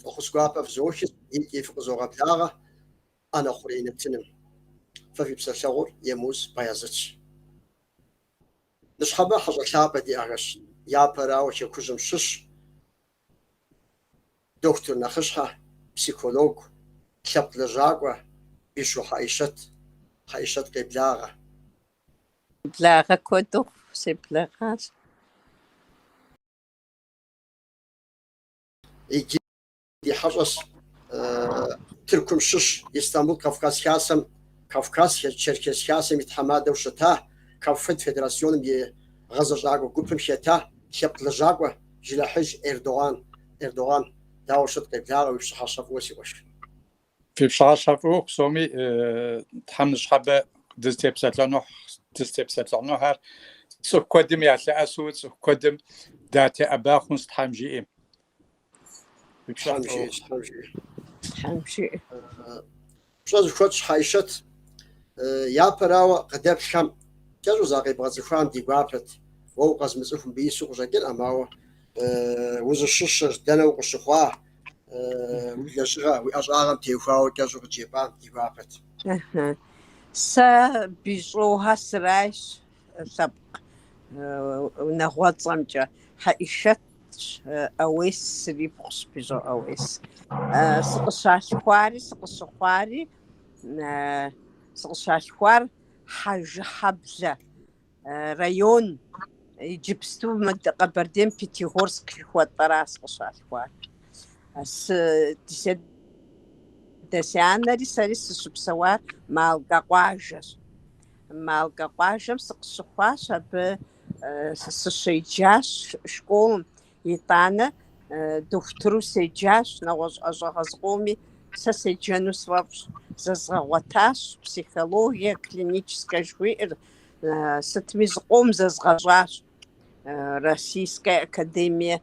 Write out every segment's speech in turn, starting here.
Фӏэхъус гуапэ фызохи икӏи фыкъызогъэблагъэ ӏэнэ хъурей нэтыным. Фэ фи псэлъэгъур Емуз Баязытщ. Ныщхьэбэ хьэщӏэ лъапӏэ диӏэхэщ, япэрауэ Хэкужьым щыщ. дохутыр нэхъыщхьэ, психологу, лъэпкъ лэжьакӏуэ Бищӏо Хьэӏишэт, Хьэӏишэт къеблагъэ. Благъэ куэду себлагъащ. Иджы ди хьэщӏэщ Тыркум щыщ Истамбул Кавказ Хасэм, Кавказ Черкес Хасэм и тхьэмадэу щыта Кавфед федерационым и гъэзэщӏакӏуэ гупым хета лъэпкъ лэжьакӏуэ Джынэхьыж Эрдоган, Эрдоган, дауэ щыт, къеблагъэ уи пщыхьэщхьэ фӏыуэ си къуэш. Фи пщыхьэщхьэ фӏыуэ псоми Тхьэм ныщхьэбэ дызытепсэлъыхьну дызытепсэлъыхьынухэр цӏыху куэдым ялъэӏэсу цӏыху куэдым датеӏэба хъунщ Тхьэм жиӏэм. Тхьэм жиӏэ, Тхьэм жиӏэ. Пщӏэ зыхуэтщӏ Хьэӏишэт япэрауэ къыдэплъхэм кӏэщӏу закъебгъэцӏыхуам ди гуапэт. Уэ укъэзмыцӏыху мыбы ису къыщӏэкӏыркъым, ауэ узыщыщыр дэнэ укъыщыхъуа, уи лэжьыгъэ уи ӏэщӏагъэм теухуауэ кӏэщӏу къыджепӏам ди гуапэт. Сэ Бищӏохэ сырайщ. лъэпкъ унагъуэцӏэмкӏэ Хьэӏишэт ӏэуес сырипхъущ, Бищӏо ӏэуес. Сыкъыщалъхуари сыкъыщыхъуари, сыкъыщалъхуар Хьэжыхьэблэ район, иджыпсту мы Къэбэрдейм Пятигорск жыхуэтӏэра сыкъыщалъхуар. Дэ си анэри сэри сыщыпсэуар Малкэ къуажэщ. Малкэ къуажэм сыкъыщыхъуащ, абы сыщеджащ школым, итӏанэ дохутыру седжащ, нэгъуэщӏ ӏэщӏагъэ зыкъоми сэ седжэну сфӏэфӏщ. Зэзгъэгъуэтащ психологие клиническэ жыхуиӏэр, сытми зыкъом зэзгъэщӏащ. Российскэ академие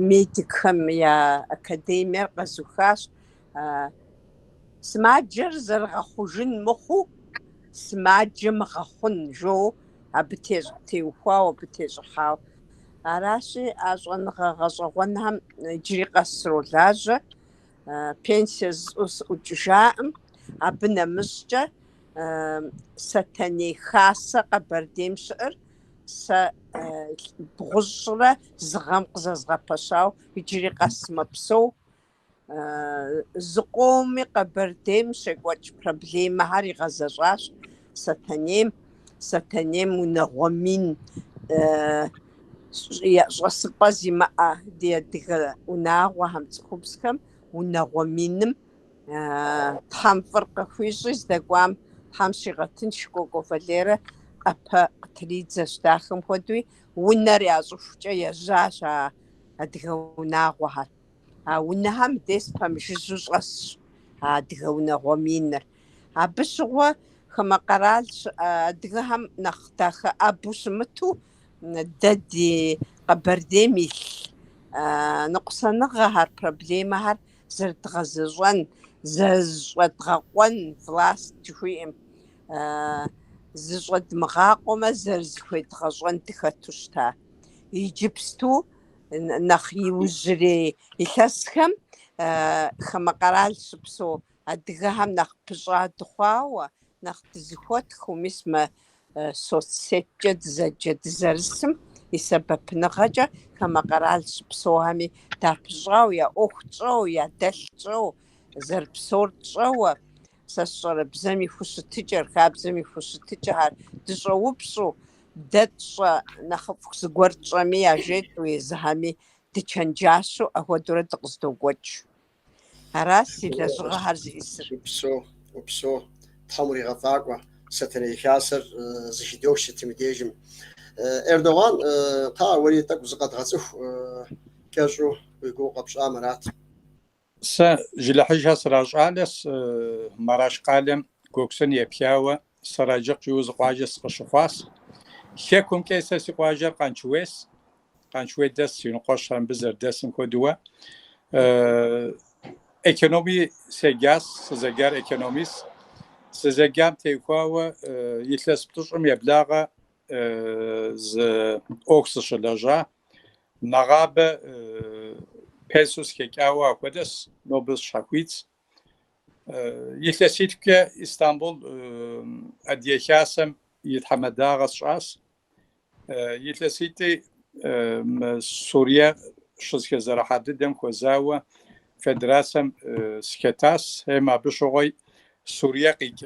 медикхэм я академиер къэзухащ сымаджэр зэрыгъэхъужын мыхъуу сымаджэ мыгъэхъун жоу абы теухуауэ абы тещӏыхьауэ аращи а щӏэныгъэ гъэщӏэгъуэнхэм иджыри къэс сролажьэ пенсие зысщӏу сыӏукӏыжакъым абы нэмыщӏкӏэ Сэтэней Хасэ Къэбэрдейм щыӏэр сэ бгъущӏрэ зы гъэм къызэзгъэпэщауэ иджыри къэс мэпсэу. Зыкъоми Къэбэрдейм щекӏуэкӏ проблемэхэр игъэзэщӏащ Сэтэнейм. Сэтэнейм унагъуэ мин щӏэсыпӏэ зимыӏэ ди адыгэ унагъуэхэм, цӏыхубзхэм унагъуэ миным Тхьэм фӏыр къыхуищӏи здэкӏуам Тхьэм щигъэтынщ, Кӏуэкӏуэ Валерэ ӏэпэ къытридзэщ. Дахэм хуэдэуи унэр ящӏыхукӏэ ежьащ а адыгэ унагъуэхэр. А унэхэм мыдес пэмыжыжьэу щӏэсщ а адыгэ унагъуэ миныр. Абы щыгъуэ хамэ къэрал щыӏэ адыгэхэм нэхъ дахэӏэбэу щымыту дэ ди Къэбэрдейм илъ ныкъусаныгъэхэр, проблемэхэр зэрыдгъэзэщӏэн, зэрызыщӏэдгъэкъуэн, власть жыхуиӏэм, зыщӏэдмыгъакъуэмэ, зэрызыхуедгъэщӏэн дыхэту щыта. Иджыпсту нэхъ иужьрей илъэсхэм хамэ къэрал щыпсэу адыгэхэм нэхъ пыщӏа дыхъуауэ, нэхъ дызыхуэтхыу, мис мы Соцсеткӏэ дызэджэ дызэрысым и сэбэпыныгъэкӏэ хамэ къэрал щыпсэухэми, дапыщӏау, я ӏуэху тщӏэу, ядэлъ тщӏэу, зэрыпсэур тщӏэуэ, сэ сщӏэрэ, бзэм и хущытыкӏэр, хабзэм и хущытыкӏэхэр дыщӏэупщӏу, дэ тщӏэ, нэхъыфӏ зыгуэр тщӏэми, яжетӏэу, езыхьэми дычэнджащэу, ахуэдэурэ дыкъыздокӏуэкӏ. Аращ си лэжьыгъэхэр зиӏысыр. Упсо, упсо, Тхьэм уригъэфӏакӏуэ, Сэтэней хасэр зыхыдох сытым и дежым. Эрдоган, кхъыӏэ, уэри тӏэкӏу зыкъэдгъэцӏыху, кӏэщӏу уи гугъу къэпщӏам арат. Сэ Жылэхьэжхэ сращӏалэс, Мараш къалэм Гоксун епхауэ Сараджыкъ кӏийуэ зы къуажэ сыкъыщыхъуас. Хекумкӏэ сэ си къуажэр Къанчуес, Къанчуей дэс си унэкъуэщхэр мыбы зэрыдэсым хуэдэуэ. Экономи седжас, сызэджар экономис. Сызэджам теухуауэ илъэс плӏыщӏым еблагъэ зы ӏуэху сыщылэжьа. Нэгъабэ пенсэу сыхэкӏауэ ахуэдэс, нобэ сыщхьэхуитс. Илъэситхукӏэ Истамбул Адыгэ Хасэм и тхьэмадагъэ сщӏас. Илъэситӏи мы Сурие щызэхэзэрыхьа дыдэм хуэзауэ федерацэм сыхэтас, хьем абы щыгъуи Сурие къикӏ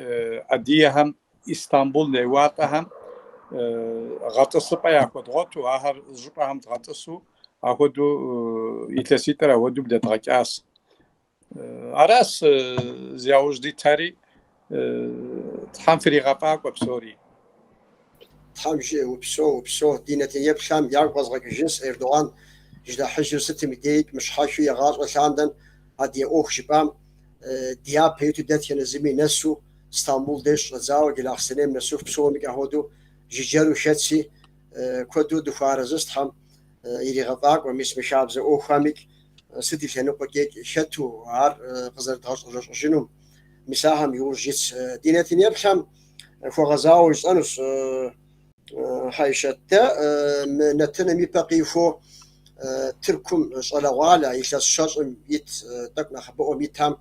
адыгэхэм Истамбул неуалӏэхэм гъэтӏысыпӏэ яхуэдгъуэту, ахэр зы щӏыпӏэхэм дгъэтӏысу, ахуэдэу илъэситӏыр ахуэдэу блэдгъэкӏас. Аращ зи яужь дитыри Тхьэм фыригъэфӏакӏуэ псори. Тхьэм жиӏэ упсэу, упсэу, ди нэтынеплъхэм ягу къэзгъэкӏыжынщ Эрдоган ди нэхъыжьыр сытым деикӏ мыщхьэхыу игъащӏэ лъандэм адыгэ ӏуэху жыпӏам, дяпэ иту дэтхэнэ зыми нэсу Стамбул деж щӏэдзауэ Джылахъстэнейм нэсыху псомикӏ ахуэдэу жыджэру хэтси куэду дыхуэарэзыс Тхьэм иригъэфӏакӏуэ мис мы хабзэ ӏуэхухэмикӏ Сыт и лъэныкъуэкӏикӏ хэту ар къызэрыдгъэщӏэрэщӏэжынум, мис ахэм иужь итщ ди нэтынеплъхэм хуэгъэзауэ жысӏэнущ. Хьэйшэт, дэ мы нэтыным и пэ къихуэу Тыркум щӏалэгъуалэ илъэс щэщӏым ит тӏэкӏу нэхъыбэӏуэм итам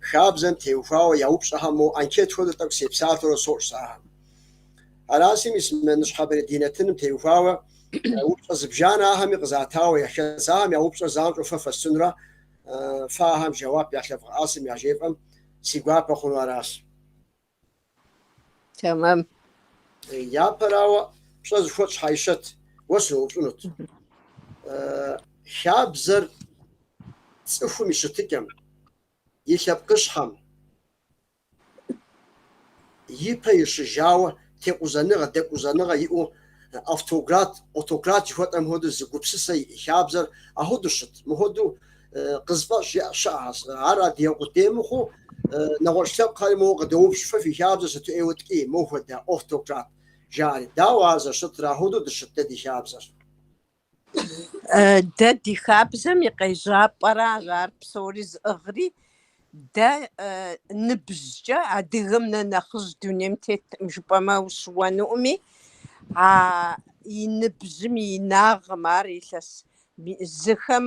хабзэм теухуауэ я упщӏэхэм мо анкет хуэдэу тӏэкӏу сепсалъэурэ сощӏ сэ ахэм. Араси мис ныщхьэбэрей ди нэтыным теухуауэ упщӏэ зыбжанэ ахэми къызатауэ яхэс, ахэм я упщӏэр занщӏэу фэ фэсщӏынурэ фэ ахэм жэуап ялъэвгъэӏэсым яжефӏэм си гуапэ хъуну аращ. Тэмэм. Япэрауэ пщӏэ зыхуэтщӏ Хьэйшэт, уэ сыноупщӏынут. Хабзэр цӏыхум и щытыкӏэм, и лъэпкъыщхьэм, ипэ ищӏыжауэ, текъузэныгъэ, дэкъузэныгъэ иӏэу, автократ, отократ жыхуэтӏэм хуэдэу зы гупсысэ иӏэ, хабзэр ахуэдэу щыт. Мыхуэдэу къызыфӏэщӏ щыӏэхэщ. Ар адыгэ къудей мыхъуу, нэгъуэщӏ лъэпкъхэри моуэ къыдоупщӏ, Фэ фи хабзэр сыту ӏейуэ ткӏий, мохуэдэ, отократ, жаӏэри. Дауэ ар зэщытыр, ахуэдэу дыщыт дэ ди хабзэр? Дэ ди хабзэм и къежьапӏэращ ар псори зыӏыгъри. Дэ ныбжькӏэ адыгэм нэ нэхъыжь дунейм теткъым жыпӏэмэ ущыуэнуӏыми, а и ныбжьым и инагъым ар илъэс. Зыхэм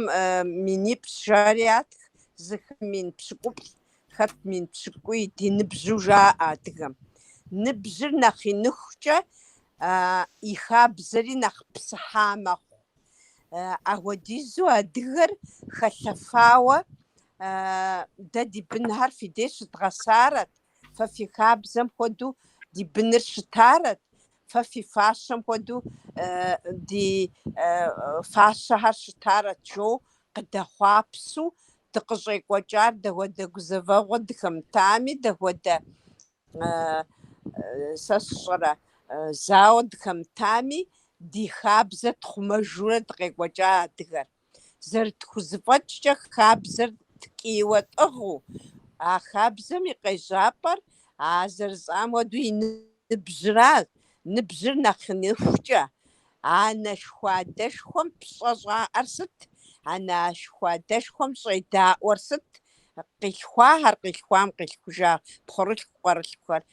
минипщӏ жари ятх, зыхэм мин пщыкӏуплӏ, Хэт мин пщыкӏуи ди ныбжьу жаӏэ адыгэм? Ныбжьыр нэхъ иныхукӏэ и хабзэри нэхъ псыхьа мэхъу. Ахуэдизу адыгэр хэлъэфауэ дэ ди бынхэр фи деж щыдгъэсарэт, фэ фи хабзэм хуэдэу ди быныр щытарэт, Фэ фи фащэм хуэдэу ди фащэхэр щытарэт, жоу къыдэхъуапсу дыкъыщӏекӏуэкӏар, дахуэдэ гузэвэгъуэ дыхэмытами, дахуэдэ, сэ сщӏэрэ, зауэ дыхэмытами, ди хабзэ тхъумэжурэ дыкъекӏуэкӏа адыгэр. Зэрытхузэфӏэкӏкӏэ хабзэр ткӏийуэ тӏыгъыу, а хабзэм и къежьапӏэр, а зэрысӏам хуэдэу, и ныбжьра, ныбжьыр нэхъ иныхукӏэ. Анэшхуадэшхуэм пщӏэ щӏаӏэр сыт? Анэшхуадэшхуэм щӏедаӏуэр сыт? Къилъхуахэр къилъхуам къилъхужа пхъурылъху къуэрылъхухэр.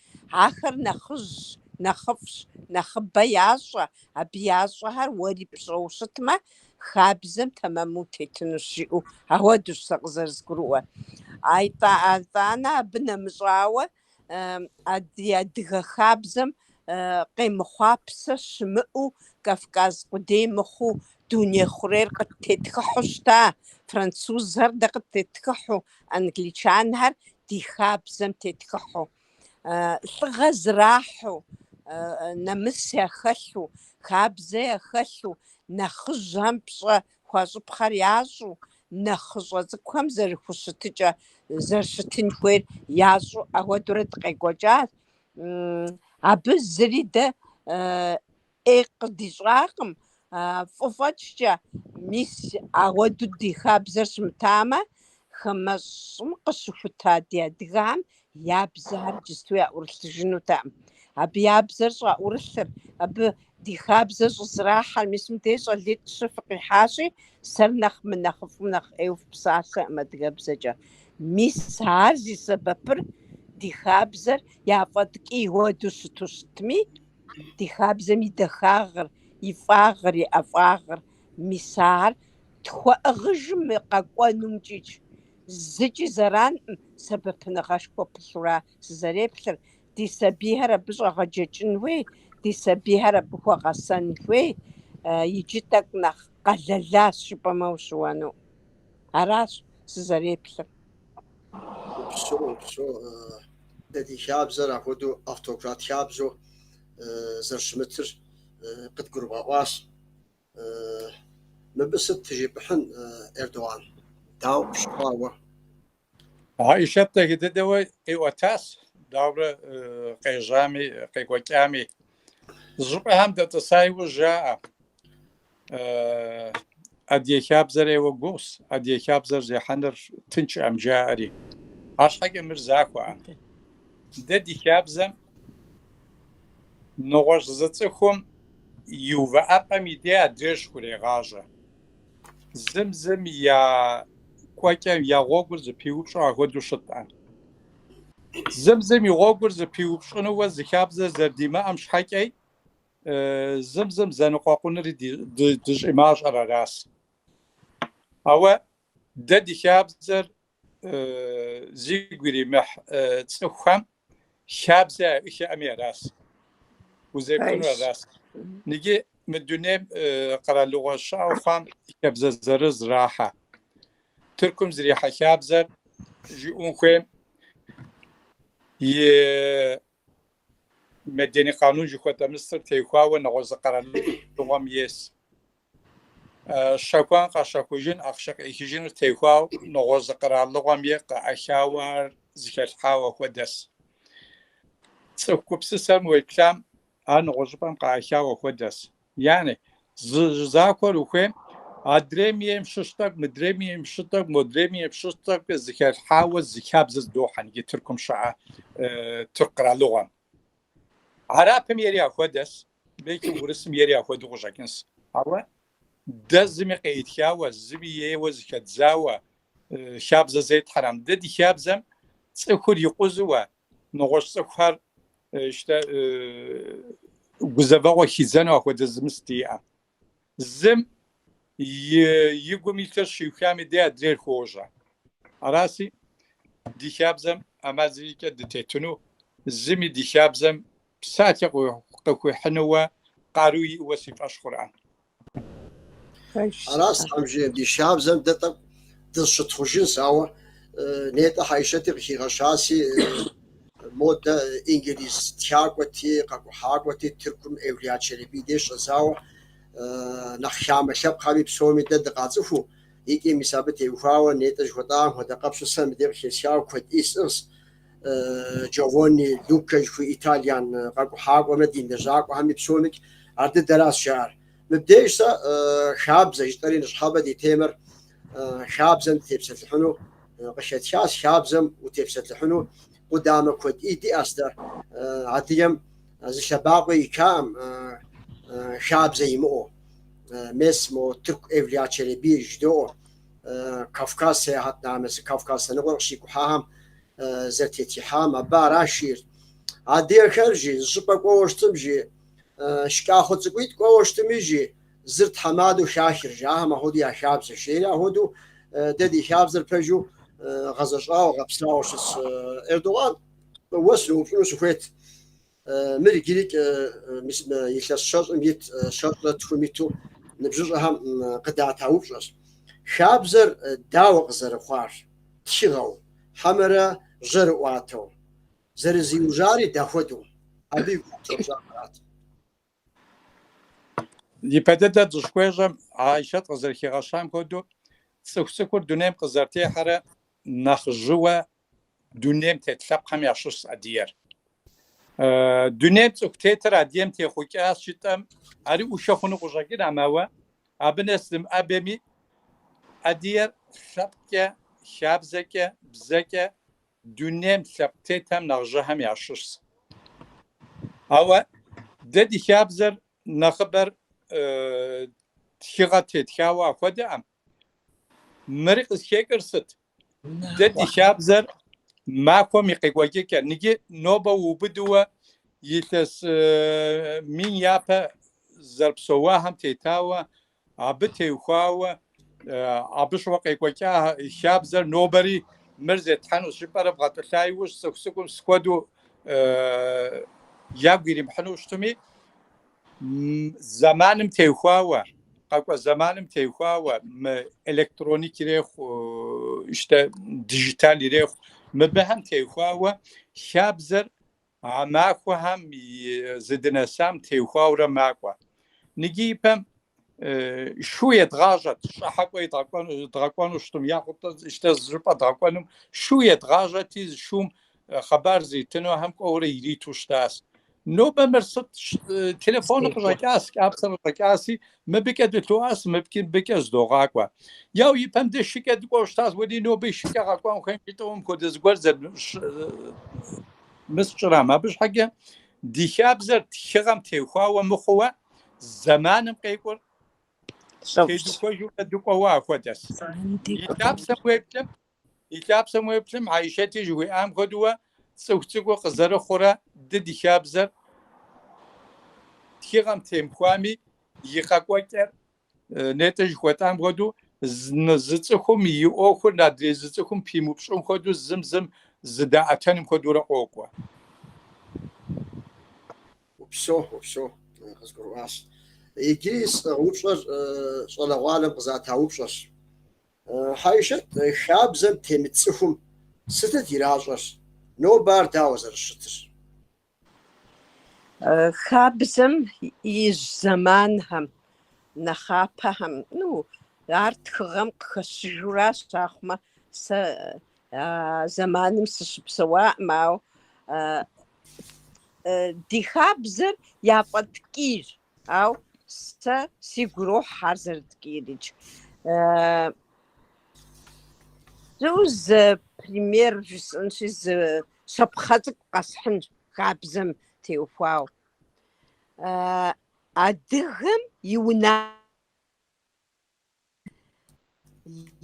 Ахэр нэхъыжьщ, нэхъыфӏщ, нэхъыбэ ящӏэ, абы ящӏэхэр уэри пщӏэу щытмэ, хабзэм тэмэму тетынущ жиӏэу, ауэдущ сэ къызэрызгурыӏуэр. Итӏанэ абы нэмыщӏауэ, ди адыгэ хабзэм къемыхъуа псэ щымыӏэу, Кавказ къудей мыхъуу, дуней хъурейр къыттетхыхьу щыта, французхэр дэ къыттетхыхьу, англичанхэр ди хабзэм тетхыхьу. Лӏыгъэ зрахьу, нэмыс яхэлъу, хабзэ яхэлъу, нэхъыжьхэм пщӏэ Хуащӏыпхъэр ящӏу, нэхъыщӏэ цӏыкӏухэм зэрыхущытыкӏэ, зэрыщытын хуейр ящӏу ауэдурэ дыкъекӏуэкӏащ. Абы зыри дэ ӏей къыдищӏакъым. Фӏы фӏэкӏкӏэ, мис ауэду ди хабзэр щымытамэ, хамэщӏым къыщыхута ди адыгэхэм Я бзэхэр иджысту яӏурылъыжынутэкъым. Абы я бзэр щӏаӏурылъыр, абы ди хабзэр щӏызэрахьэр, мис мыдей щӏалитӏ-щы фыкъихьащи, сэр нэхъ мынэхъыфӏым, нэхъ ӏейуэ фыпсалъэкъым адыгэбзэкӏэ. Мис ар зи сэбэпыр ди хабзэр яфӏэткӏий хуэду щыту щытми, ди хабзэм и дахагъыр, и фӏагъыр, и ӏэфӏагъыр, мис ар тхуэӏыгъыжым къэкӏуэнумкӏичӏ, Зыкӏи зэранкъым сэбэпыныгъэшхуэ пылъуращ сызэреплъыр, ди сабийхэр абы щӏэгъэджэкӏын хуей, ди сабийхэр абы хуэгъэсэн хуей, иджы тӏэкӏу нэхъ къэлэлащ жыпӏэмэ ущыуэну. Аращ сызэреплъыр. Упсэу, упсэу, дэ ди хабзэр апхуэдэу автократ хабзэу зэрыщымытыр къыдгурыбгъэӏуащ. Мыбы сыт тежыпӏыхьын Эрдоган? Дауэ пщыхъуа уэ? Хьэишэт дахэ дыдэуэ къиӏуэтащ, дауэрэ къежьами, къекӏуэкӏами. Зыщӏыпӏэхэм дэтӏыса иужь жаӏэ. Адыгэ хабзэр ӏейуэ гугъущ, адыгэ хабзэр зехьэныр тыншӏэм жаӏэри. Арщхьэкӏэ мыр захуэӏэ. Дэ ди хабзэм Нэгъуэщӏ зы цӏыхум и увыӏэпӏэм и дей адрейщ хурегъащӏэ. Зым зым я кӏуэкӏэ я гъуэгур зыпиупщӏу ахуэдэу щытӏэ. Зым зым и гъуэгур зыпиупщӏынууэ зы хабзэ зэрыдимыӏэм щхьэкӏэ зым зым зэныкъуэкъунри дыщӏимащӏэр аращ. Ауэ Дэ ди хабзэр зигу иримыхь цӏыхухэм хабзэ яӏыхьэми аращ, узекӏуэнур аращ. Иджы мы дунейм къэралыгъуэ щыӏэу хъуам хабзэ зырыз зрахьэ. Тыркум зрихьэ хабзэр жыӏэн хуейм и медени къанун жыхуэтӏэ мысыр теухуауэ нэгъуэщӏ зы къэралыгъуэм ейс. Щэхун къэщэхужын, ахъшэ къеӏыхыжыныр теухуауэ нэгъуэщӏ зы къэралыгъуэм ей къаӏэхауэ ар зыхэлъхьауэ хуэдэс. Цӏыху гупсысэм уеплъам, ар нэгъуэщӏыпӏэм къаӏэхауэ хуэдэс. Яни, зы закъуэр ухуейм, адрейм ейм щыщ тӏэкӏу, мыдрейм ейм щыщ тӏэкӏу, модрейм ейм щыщ тӏэкӏукӏэ зыхэлъхьауэ зы хабзэ зыдохьэ иджы Тыркум щыӏэ тырку къэралыгъуэм. Хьэрыпым ейри ахуэдэс, беки урысым ейри ахуэдэу къыщӏэкӏынс. Ауэ дэ зыми къеӏытхауэ, зыми ейуэ зыхэдзауэ хабзэ зетхьэрэм. Дэ ди хабзэм цӏыхур икъузуэ, нэгъуэщӏ цӏыхухэр гузэвэгъуэ хидзэну ахуэдэ зы мыст диӏэ. Зым и гум илъыр щиухам и деж адрейр хуожьэ. Араси, ди хабзэм ӏэмал зырикӏэ дытетыну, зыми ди хабзэм псалъэ къыхуихьынууэ къару иӏэуэ си фӏэщ хъуркъым. Аращ Тхьэм жиӏэр, ди хабзэм дэ тӏэкӏу дызыщытхъужынщ, ауэ нетӏэ Хьэишэти къыхигъэщаси, Модэ инглиз тхакӏуэти, къэкӏухьакӏуэти, Тыркум Эвлия Челеби деж щӏэдзауэ нэхъ хамэ лъэпкъхэми псоми дэ дыкъацӏыхуу, икӏи мис абы теухуауэ нетӏэ жыхуэтӏахэм хуэдэ къэпщу сэ мыбдеж къыхесхауэ куэд ӏей сӏыгъщ. Джованни Лукэ жыхуиӏэ итальян къэкӏухьакӏуэмрэ дин лэжьакӏуэхэми псомикӏ ар дыдэращ жаӏэр. Мыбдеж сэ хабзэ жытӏэри ныщхьэбэ ди темэр хабзэм тепсэлъыхьыну къыхетхащ, хабзэм утепсэлъыхьыну къудамэ куэд ӏей диӏэщ дэ. Адыгэм зы лъэбакъуэ икаӏым хабзэ имыӏэу. Мес мо тырку Эвлия Челебир жыдоӏэ. Кавказ сеяхьэтнамэсы Кавказ лъэныкъуэр къыщикӏухьахэм зэрытетхыхьам абы аращ жиӏэр. Адыгэхэр жи зыщӏыпӏэ кӏуэуэ щытым жи Шкӏахъуэ цӏыкӏуитӏ кӏуэуэ щытми, жи, зыр тхьэмадэу хахыр, жи, ахэм ахуэдэу я хабзэщ, жери ахуэдэу дэ ди хабзэр пэжу гъэзэщӏауэ, гъэпсауэ щытс. Эрдогъан, уэ сыноупщӏыну сыхуейт, мыр иджыри илъэс щэщӏым ит щэщӏрэ тхум иту ныбжьыщӏэхэм къыдата упщӏэщ. Хабзэр дауэ къызэрыхъуар, тхыгъэу, хьэмэрэ жьэрыӏуатэу, Зэрызиужари дапхуэдэу? Абы и гугъу щӏэщӏахэрат. Ипэ дыдэр дыщӏхуещӏэм, Хьэишэт къызэрыхигъэщам хуэдэу, цӏыху цӏыкӏур дунейм къызэрытехьэрэ нэхъ жьыуэ дунейм тет лъэпкъхэм ящыщщ адыгэр. Дунейм цӏыху тетыр адыгэм техъукӏащ жытӏэм, ари ӏушэ хъуну къыщӏэкӏынӏым, ауэ абы нэс дымыӏэбэми, адыгэр лъэпкъкӏэ, хабзэкӏэ, бзэкӏэ Дунейм лъэпкъ тетхэм нэхъ жьыхэм ящыщщ. Ауэ дэ ди хабзэр нэхъыбэр тхыгъэ тетхауэ ахуэдэкъым. Мыри къызыхэкӏыр сыт? Дэ ди хабзэр махуэм и къекӏуэкӏыкӏэр. Ныджы нобэ уубыдууэ илъэс мин япэ зэрыпсэуахэм тетауэ Абы теухуауэ, абы щыгъуэ къекӏуэкӏа хабзэр нобэри мыр зетхьэнущ жыпӏэрэ бгъэтӏылъа иужь цӏыху цӏыкӏум сытхуэдэу ягу иримыхьыну щытми, зэманым теухуауэ, къэкӏуэ зэманым теухуауэ мы электроник ирехъу, иштэ дижитал ирехъу, мыбыхэм теухуауэ хабзэр А махуэхэм зыдынэсам теухуауэрэ макӏуэ. Ныджы ипэм шу едгъажьэт, щхьэкӏуэ дгъэкӏуэну щытым, яхут дэ иштэ зы щӏыпӏэ дгъэкӏуэнум шу едгъажьэти, зы шум хъыбар зритынухэм кӏуэурэ ириту щытащ. Нобэ мыр сыт? Телефоныр къыщӏэкӏащ, кӏапсэр къыщӏэкӏащи, Мыбыкӏэ дылъоӏэс, мыбкӏи-мыбыкӏэ зыдогъакӏуэ. Яу ипэм дэ шыкӏэ дыкӏуэу щытащ, уэри ноби шыкӏэ къэкӏуэн хуей жытӏэу мыпхуэдэ зыгуэр зэрымысщӏырам. Абы щхьэкӏэ ди хабзэр тхыгъэм техуауэ мыхъууэ, зэманым къекӏур тедухуэжурэ дыкӏуэуэ ахуэдэс. И лъапсэм уеплъым, И лъапсэм уеплъым, Хьэишэти жыхуиӏам хуэдэуэ, цӏыху цӏыкӏур къызэрыхъурэ дэ ди хабзэр тхыгъэм темыхуами, и къэкӏуэкӏэр нетӏэ жыхуэтӏам хуэдэу, зы цӏыхум и ӏуэхур адрей зы цӏыхум пимыупщӏым хуэдэу зым зым зыдаӏэтэным хуэдэурэ къокӏуэ. Упсо, упсо, къызгурыӏуащ. Иджы си упщӏэр щӏалэгъуалэм къызата упщӏэщ. Хьэишэт хабзэм темыт цӏыхум сытыт иращӏэр? Нобэ ар дауэ зэрыщытыр? Хабзэм ижь зэманхэм, нэхъапэхэм, ну, ар тхыгъэм къыхэщыжуращ, ахъумэ, сэ а зэманым сыщыпсэуаӏым, ауэ ди хабзэр яфӏэткӏийщ, Ау сэ сигу ирохь ар зэрыткӏиирикӏ. Зы, зы пример жысӏэнщи, зы щапхъэ цӏыкӏу къэсхьынщ хабзэм теухуауэ. Адыгэм и уна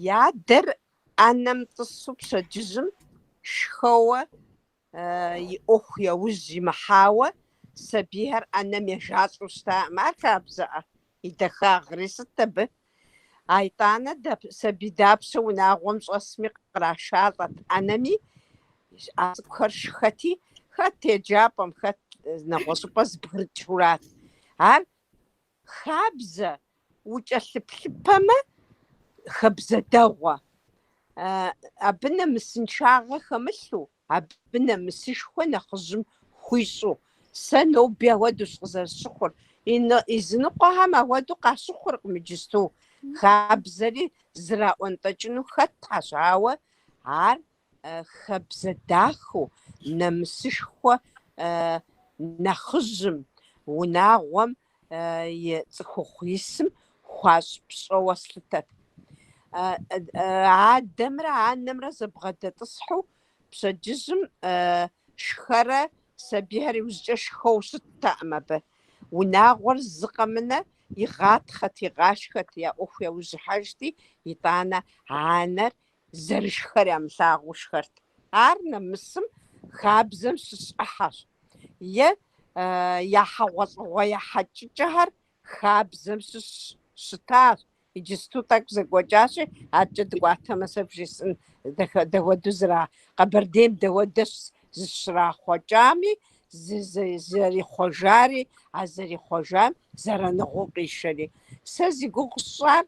И адэр ӏэнэм тӏысу пщэдджыжьым шхэуэ и ӏуэху яужь имыхьауэ, сабийхэр ӏэнэм ежалӏэу щытаӏым. Ар хабзэӏэ, и дахагъри сыт абы? А итӏанэ сабий дапщэ унагъуэм щӏэсми кърашалӏэт ӏэнэми, а цӏыкӏухэр шхэти, хэт еджапӏэм, хэт нэгъуэщӏыпӏэ зэбгрыкӏыурат. Ар Хабзэ, укӏэлъыплъыпэмэ, хабзэ дэгъуэ. Абы нэмысыншагъэ хэмылъу, абы нэмысышхуэ нэхъыжьым хуищӏу. Сэ ноби ауэдущ къызэрысщыхъур. Языныкъуэхэм ауэду къащыхъуркъым иджысту. Хабзэри зэраӏуэнтӏэкӏыну хэтхэщ, ауэ ар Хабзэ дахэу, нэмысышхуэ нэхъыжьым, унагъуэм и цӏыхухъу исым хуащӏ пщӏэуэ слъытэт. Адэмрэ анэмрэ зэбгъэдэтӏысхьу пщэдджыжьым шхэрэ сабийхэр иужькӏэ шхэу щыттэӏым абы. Унагъуэр зы къэмынэ игъатхъэт, игъашхэт, я ӏуэху яужь ихьэжти, итӏанэ анэр Зэрышхэр ямылъагъуу шхэрт. Ар нэмысым хабзэм щыщ ӏыхьэщ, е я хьэгъуэлӏыгъуэ ехьэкӏыкӏэхэр хабзэм щыщ щытащ. Иджысту тӏэкӏу зэкӏуэкӏащи, адэкӏэ дыкӏуатэмэ, сэ бжесӏын, дауэду зыра, Къэбэрдейм дауэдэщ зыщрахъуэкӏами, зэрихъуэжари, а зэрихъуэжам зэраныгъэу къишэри. Сэ зи гугъу сщӏар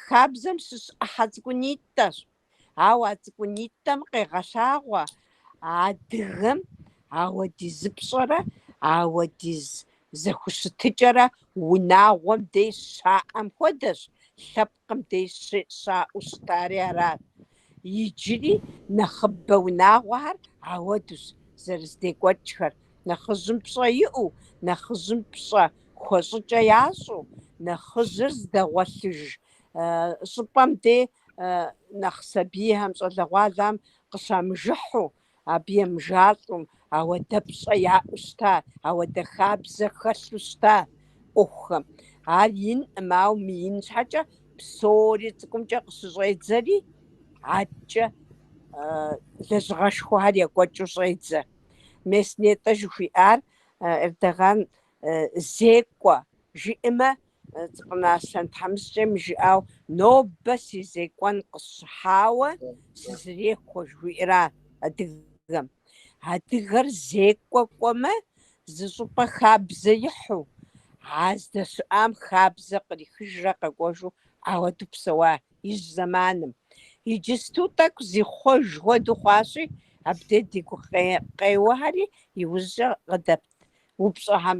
Хабзэм щыщ ӏыхьэ цӏыкӏунитӏэщ. Ауэ а цӏыкӏунитӏэм къегъэлъагъуэ адыгэм ауэдиз пщӏэрэ ауэдиз зэхущытыкӏэрэ унагъуэм деж щаӏэм хуэдэщ, лъэпкъым деж щаӏэу щытари арат. Иджыри нэхъыбэ унагъуэхэр ауэдущ зэрыздекӏуэкӏхэр, нэхъыжьым пщӏэ иӏэу, нэхъыжьым пщӏэ хуэщӏыкӏэ ящӏэу, нэхъыжьыр здэгъуэлъыж щӏыпӏэм де нэхъ сабийхэм, щӏалэгъуалэхэм къыщамыжыхьу, Абы емыжалӏэу, ауэдэ пщӏэ яӏэу щыта, ауэдэ хабзэ хэлъу щыта ӏуэхухэм. Ар инкъым, ауэ мыин щхьэкӏэ псори цӏыкӏумкӏэ къыщыщӏедзэри, адэкӏэ лэжьыгъэшхуэхэр екӏуэкӏыу щӏедзэ. Мес нетӏэ жыхуиӏар Эрдогъан зекӏуэ жиӏэмэ, Цӏыпӏынэ Аслъэн тхьэмыщкӏэм и жыӏауэ, Нобэ си зекӏуэн къысщыхьауэ сызэрехуэ, жыхуиӏэра адыгэм. Адыгэр зекӏуэ кӏуэмэ, зы щӏыпӏэ хабзэ ихьу, а здэщыӏам хабзэ кърихыжрэ къэкӏуэжу ауэду псэуа ижь зэманым. Иджысту тӏэкӏу зихъуэж хуэдэу хъуащи, абдей ди гукъеуэхэри иужькӏэ къыдэпт упщӏэхэм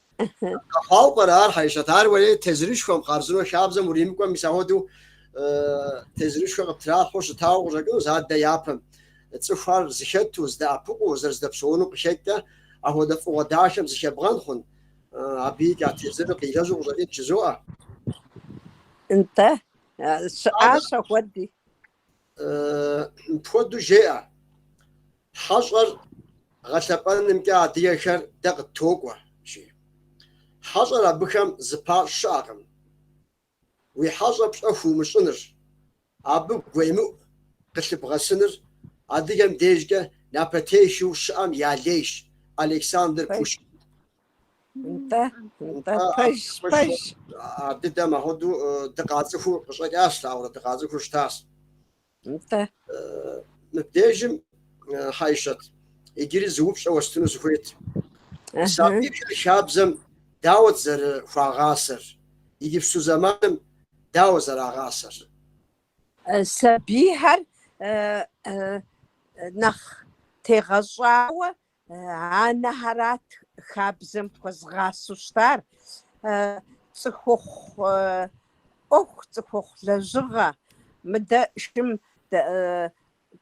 Къэхъуауэ пӏэрэ ар, Хьэишэт, ар уэри тезырышхуэм, хъарзынэу хабзэм уримыкӏуэм, мис ахуэдэу тезырышхуэ къыптралъхьэу щытауэ къыщӏэкӏынущ адэ япэм. Цӏыхухэр зыхэту, здэӏэпыкъуу, зэрыздэпсэунум къыхэкӏкӏэ, ахуэдэ фӏыгъуэ дахэм зыхебгъэн хъун, абы икӏа тезырыр къилэжьу къыщӏэкӏынт жызоӏэ. Нтӏэ, щыӏащ ахуэди. Мыпхуэдэу жеӏэ. Хьэщӏэр гъэлъэпӏэнымкӏэ адыгэхэр дэ къыттокӏуэ, жи. Хьэщӏэр абыхэм зыпащӏ щыӏэкъым. Уи хьэщӏэм пщӏэ хуумыщӏыныр, абы гуемыӏу къылъыбгъэсыныр адыгэм дежкӏэ напэтехыу щыӏэм я лейщ Александр Пушкин. Нтӏэ, нтӏэ, пэж, пэж. Абы дэ мыхуэду дыкъацӏыхуу къыщӏэкӏащ, ауэрэ дыкъацӏыхуу щытащ. Нтӏэ. Мыбдежым Хьэйшэт иджыри зы упщӏэ уэстыну сыхуейт. Сабийхэр хабзэм дауэт зэрыхуагъасэр, иджыпсту зэманым дауэ зэрагъасэр? Сабийхэр нэхъ тегъэщӏауэ Анэхэрат хабзэм хуэзгъасэу щытар, цӏыхухъу ӏуэху, цӏыхухъу лэжьыгъэ. Мыдэ шым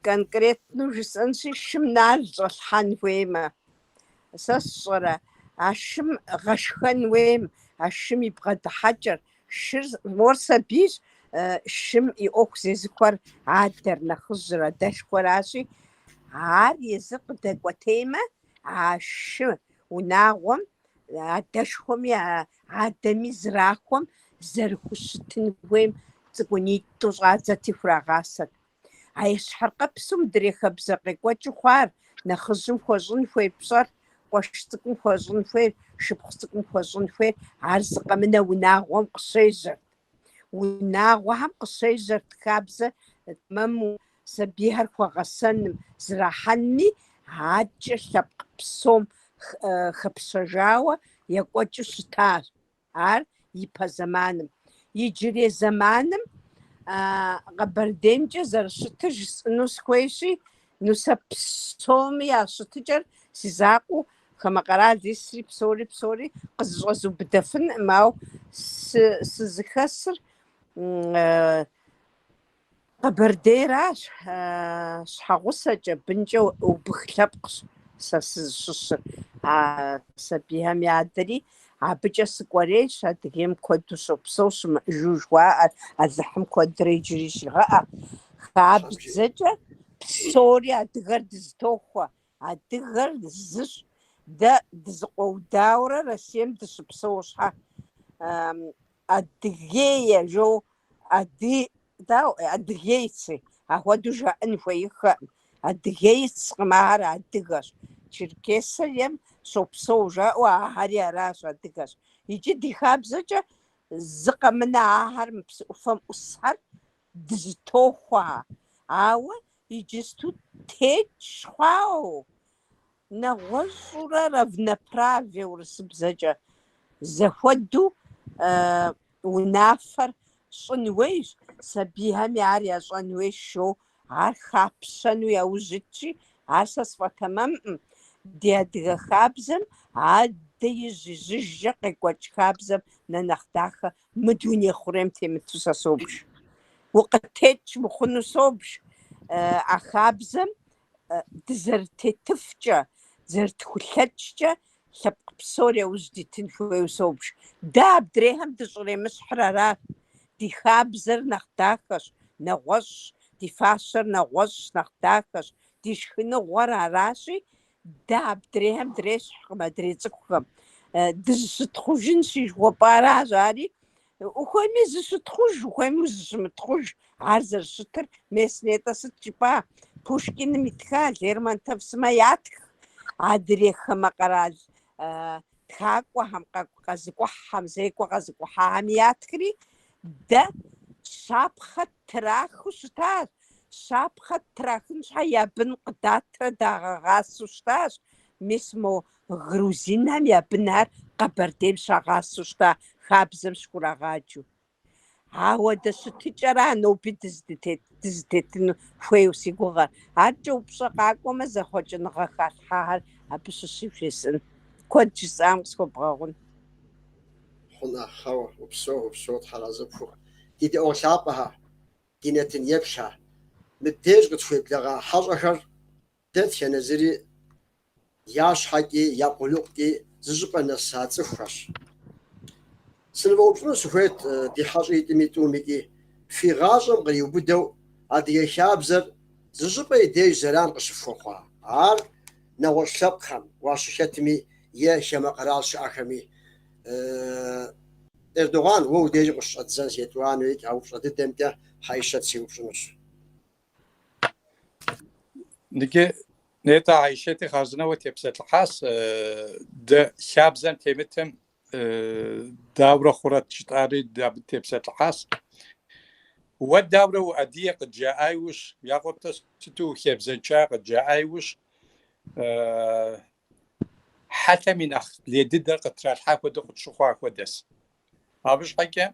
конкретнэу жысӏэнщи, шым нал щӏэлъхьэн хуеймэ, сэ сщӏэрэ, а шым гъэшхэн хуейм, а шым и бгъэдыхьэкӏэр, Шыр мор сабийщ, шым и ӏуэху зезыхуэр адэр, нэхъыжьыр, адэшхуэращи, ар езыр къыдэкӏуэтеймэ, а шы унагъуэм адэшхуэми адэми зрахуэм зэрыхущытын хуейм цӏыкӏунитӏу щӏадзэрти хурагъасэт. А ещхьыркъэпсу мыдрей хабзэ къекӏуэкӏыу хъуар, нэхъыжьым хуэщӏын хуей пщӏэр, къуэш цӏыкӏум хуэщӏын хуейр, шыпхъу цӏыкӏум хуэщӏын хуейр, ар зы къэмынэу унагъуэм къыщежьэрт. Унагъуэхэм къыщежьэрт хабзэ тэмэму сабийхэр хуэгъэсэным, зэрахьэнми, адэкӏэ лъэпкъ псом хэпщэжауэ екӏуэкӏыу щытащ. Ар и пэ зэманым. Иджырей зэманым Къэбэрдеймкӏэ зэрыщытыр жысӏыну сыхуейщи, ну сэ псоми я щытыкӏэр си закъуэу хамэ къэрал исри псори псори къызыщӏэзыубыдэфынкъым, ауэ сызыхэсыр Къэбэрдейращ щхьэгъусэкӏэ, бынкӏэ убых лъэпкъщ сэ сызыщыщыр. А сабийхэм я адэри абыкӏэ сыкӏуэрейщ, Адыгейм куэду щопсэу щымыӏыжу жыхуаӏэр Алыхьым куэдрэ иджыри щигъэӏэ. Хабзэкӏэ псори адыгэр дызэтохуэ, Адыгэр зыщ, дэ дызэкъуэудауэрэ Россием дыщыпсэу щхьэ, Адыгея жоу, Ады, дау, Адыгейцы, ахуэдэу жаӏын хуеиххэкъым. Адыгейцкъым, ахэр адыгэщ. Черкесием щопсэу жаӏэу, ахэри аращ, адыгэщ. Икӏи ди хабзэкӏэ зы къэмынэу ахэр мы псы ӏуфэм ӏусхэр, дызэтохуэ, ауэ иджысту текӏ хъуауэ, нэгъуэщӏурэ равноправие урысыбзэкӏэ зэхуэдэу унафэр щӏын хуейщ, сабийхэми ар ящӏэн хуейщ жоу, ар хапщэну яужь итщи, ар сэ сфӏэтэмэмкъым, ди адыгэ хабзэм адэ ижь-ижьыжкӏэ къекӏуэкӏ хабзэм нэ нэхъ дахэ Мы дуней хъурейм темыту сэ собж. Укъытекӏ мыхъуну собж а хабзэм дызэрытетыфкӏэ, зэрытхулъэкӏкӏэ лъэпкъ псори яужь дитын хуейуэ собж. Дэ абдрейхэм дыщӏремыщхьыр аращ. Ди хабзэр нэхъ дахэщ, нэгъуэщӏщ, ди фащэр нэгъуэщӏщ, нэхъ дахэщ, ди шхыныгъуэр аращи, Дэ адрейхэм дрещхькъым, адрей цӏыхухэм. Дызыщытхъужын жыхуэпӏэращ ари. Ухуейми зыщытхъуж, ухуейми зыщымытхъуж. Ар зэрыщытыр мес, нтӏэ сыт жыпӏа? Пушкиным итха, Лермонтов сымэ ятха. Адрей хамэ къэрал Тхакӏуэхэм, къэ- къэзыкӏухьхэм, зекӏуэ къэзыкӏухьахэм ятхри дэ щапхъэ трахыу щытащ. Щапхъэ трахын щхьэ я бын къыдатрэ дагъэгъасэу щытащ. Мис мо грузинхэм я бынхэр Къэбэрдейм щагъасэу щыта хабзэм щыхурагъаджэу. Ауэ дэ щытыкӏэра ноби дызытетыну хуейуэ си гугъэр? Аркӏэ упщӏэ къакӏуэмэ, зэхъуэкӏыныгъэ халъхьэхэр абы щыщу жесӏын. Куэд жысӏам къысхуэбгъэгъун. Хъун, хьэуэ, упсэу, упсэу, тхьэразэ пхухъу. Ди дэӏуэгъу лъапӏэхэ, ди нэтын еплъхэ. Мыбдеж къытхуеблэгъа хьэщӏэхэр Дэтхэнэ зыри я щхьэкӏи, я къулыкъукӏи зы щӏыпӏэ нэса цӏыхухэщ. Сынывэупщӏыну сыхуейт, ди хьэщӏитӏми тӏумикӏи, фи гъащӏэм къриубыдэу адыгэ хабзэр зы щӏыпӏэ и деж зэран къыщыфхуэхъуа? Ар нэгъуэщӏ лъэпкъхэм уащыхэтми е хамэ къэрал щыӏэхэми, Эрдоган, уэ удежым къыщыщӏэддзэнщ, етӏуанэуи, а упщӏэ дыдэмкӏэ Хьэишэт сиупщӏынущ. Иджы нетӏэ Айщэти хъарзынэуэ тепсэлъыхьащ дэ хабзэм темытым дауэрэ хъурэт жытӏари дэ абы тепсэлъыхьащ. Уэ дауэрэ уадыгэ къыджаӏа иужь, я къуэпэ сыту ухабзэншэ къыджаӏа иужь, хьэлъэм и нэхъ лей дыдэр къытралъхьа хуэдэу къытщыхъуа хуэдэс. Абы щхьэкӏэ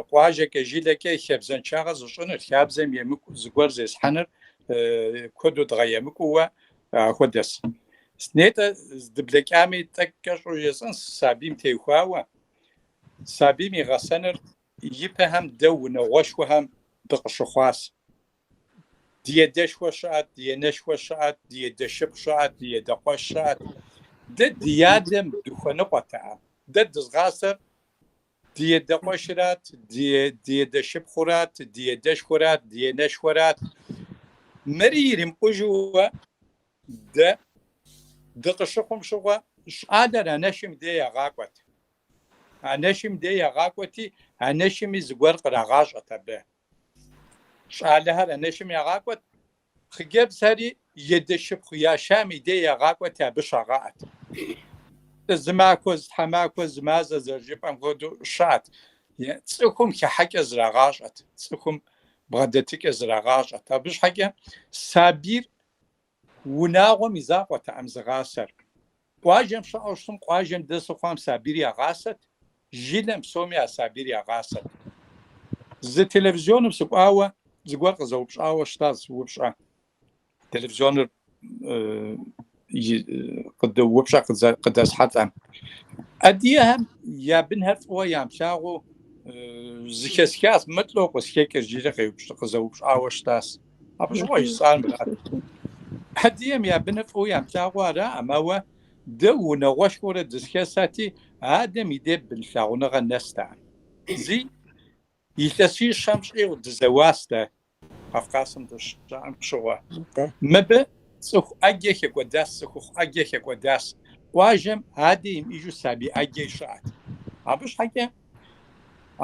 къуажэкӏэ, жылэкӏэ и хабзэншагъэр зыщӏыныр, хабзэм емыкӏу зыгуэр зесхьэныр куэду дгъэемыкӏууэ хуэдэс. Нетӏэ, здыблэкӏами, тӏэкӏу кӏэщӏу жесӏэнщ сабийм теухуауэ. Сабийм и гъэсэныр ипэхэм дэ унагъуэшхуэхэм дыкъыщыхъуащ. Ди едэшхуэ щыӏэт, ди енэшхуэ щыӏэт, ди едэшыпхъу щыӏэт, ди едэкъуэш щыӏэт. Дэ ди адэм дыхуэныкъуэтэкъым. Дэ дызгъасэр Ди едэкъуэшырат, ди едэшыпхъурат, ди едэшхуэрат, ди енэшхуэрат. Мыри иримыкъужууэ дэ дыкъыщыхъум щыгъуэ, щӏалэр анэшым дей ягъакӏуэт. Анэшым дей ягъакӏуэти, анэшыми зыгуэр кърагъащӏэт абы. Щӏалэхэр анэшым ягъакӏуэт, Хъыджэбзхэри едэшыпхъу яшам и дей ягъакӏуэти, абы щагъэӏэт. Зы махуэ, зы тхьэмахуэ, зы мазэ зэрыжыпӏэм хуэдэу щыӏэт. Цӏыхум хыхьэкӏэ зрагъащӏэт, цӏыхум бгъэдэтыкӏэ зрагъащӏэт. Абы щхьэкӏэ сабийр унагъуэм и закъуэтэкъым зыгъасэр. Къуажэм щыӏэу щытым къуажэм дэсу хъуам сабийр ягъасэт, жылэм псоми а сабийр ягъасэт. Зы телевизионым сыкӏуауэ зыгуэр къызэупщӏауэ щытащ упщӏэ. Телевизионыр упщӏэ къыдэсхьэлӏэм. Адыгэхэм я бынхэр фӏыуэ ямылъагъуу зыхэсхащ, мыр лӏэу къызхэкӏыр, жири къызэупщӏауэ щытащ. Абы щыгъуэ жысӏар мырат. Адыгэм я быныр фӏыуэ ямылъагъуу араӏым, ауэ дэ унагъуэшхуэурэ дызэхэсати, адэм и дей бын лъагъуныгъэ нэстэкъым. Зы илъэсищэм щӏигъу дызэуащ дэ, Кавказым дыщыӏэм щыгъуэ. Мыбы цӏыху ӏэджэ хекӏуэдащ, цӏыхухъу ӏэджэ хекӏуэдащ. Къуажэм адэ имыӏыжу сабий ӏэджэ щыӏэт. Абы щхьэкӏэ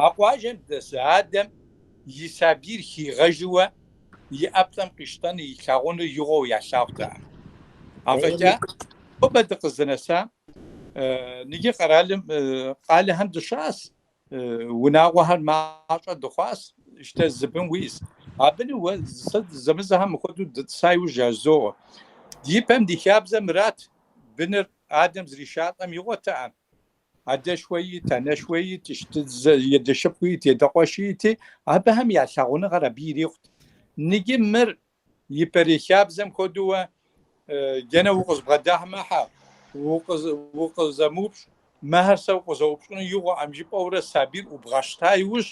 А къуажэм дэсу адэм и сабийр хигъэжыуэ и ӏэплӏэм къищтэныр илъагъуныр игъуэу ялъагъутэкъым. Афӏэкӏа нобэ дыкъызынэсам ныджы къэралым къалэхэм дыщыӏэщ, унагъуэхэр мащӏэ дыхъуащ, щтэ зы бын уиӏэщ. Абыни уэ сэ зэмызэхэм мыхуэдэу дытӏыса иужь жазоуэ. Ди пэм ди хабзэ мырат, быныр адэм зришалӏэм игъуэтэкъым. Адэшхуэ иӏэт, анэшхуэ иӏэт, щтэ и адэ шыпхъу иӏэт, и адэ къуэши иӏэти, абыхэм я лъагъуныгъэр абы ирикъут. Ныджы мыр ипэрей хабзэм хуэдэуэ дэнэ укъызбгъэдэмыхьэ, укъызэмыупщӏ, мыхэр сэ укъызэупщӏыну игъуэкъым жыпӏэурэ сабийр ӏубгъэщта иужь,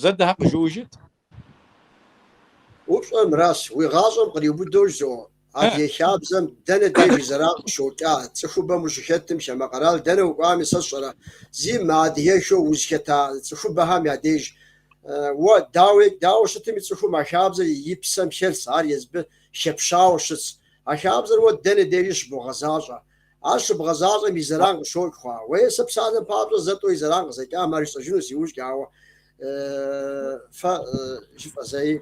Зэ дыхьэ къыжыӏэжыт. Упщӏэр мыращ, уи гъащӏэм къриубыдэу жьо, Адыгэ хабзэм дэнэ деж и зэран къыщокӏа, цӏыхубэм ущыхэтым, хамэ къэрал дэнэ укӏуами, сэ сщӏэрэ, зы мыадыгэххэу узыхэта цӏыхубэхэм я деж уэ, дауи, дауэ щытми, цӏыхум а хабзэр и псэм хэлъщ, ар езбы хэпщауэ щытщ. А хабзэр уэ дэнэ дежи щыбогъэзащӏэ. Ар щыбгъэзащӏэм и зэран къыщокӏ хъуа, ауэ сэ псалъэм папщӏэ зэ-тӏэу и зэран къызэкӏам ар жысӏэжынущ иужькӏэ, ауэ фэ жыфӏэ зэи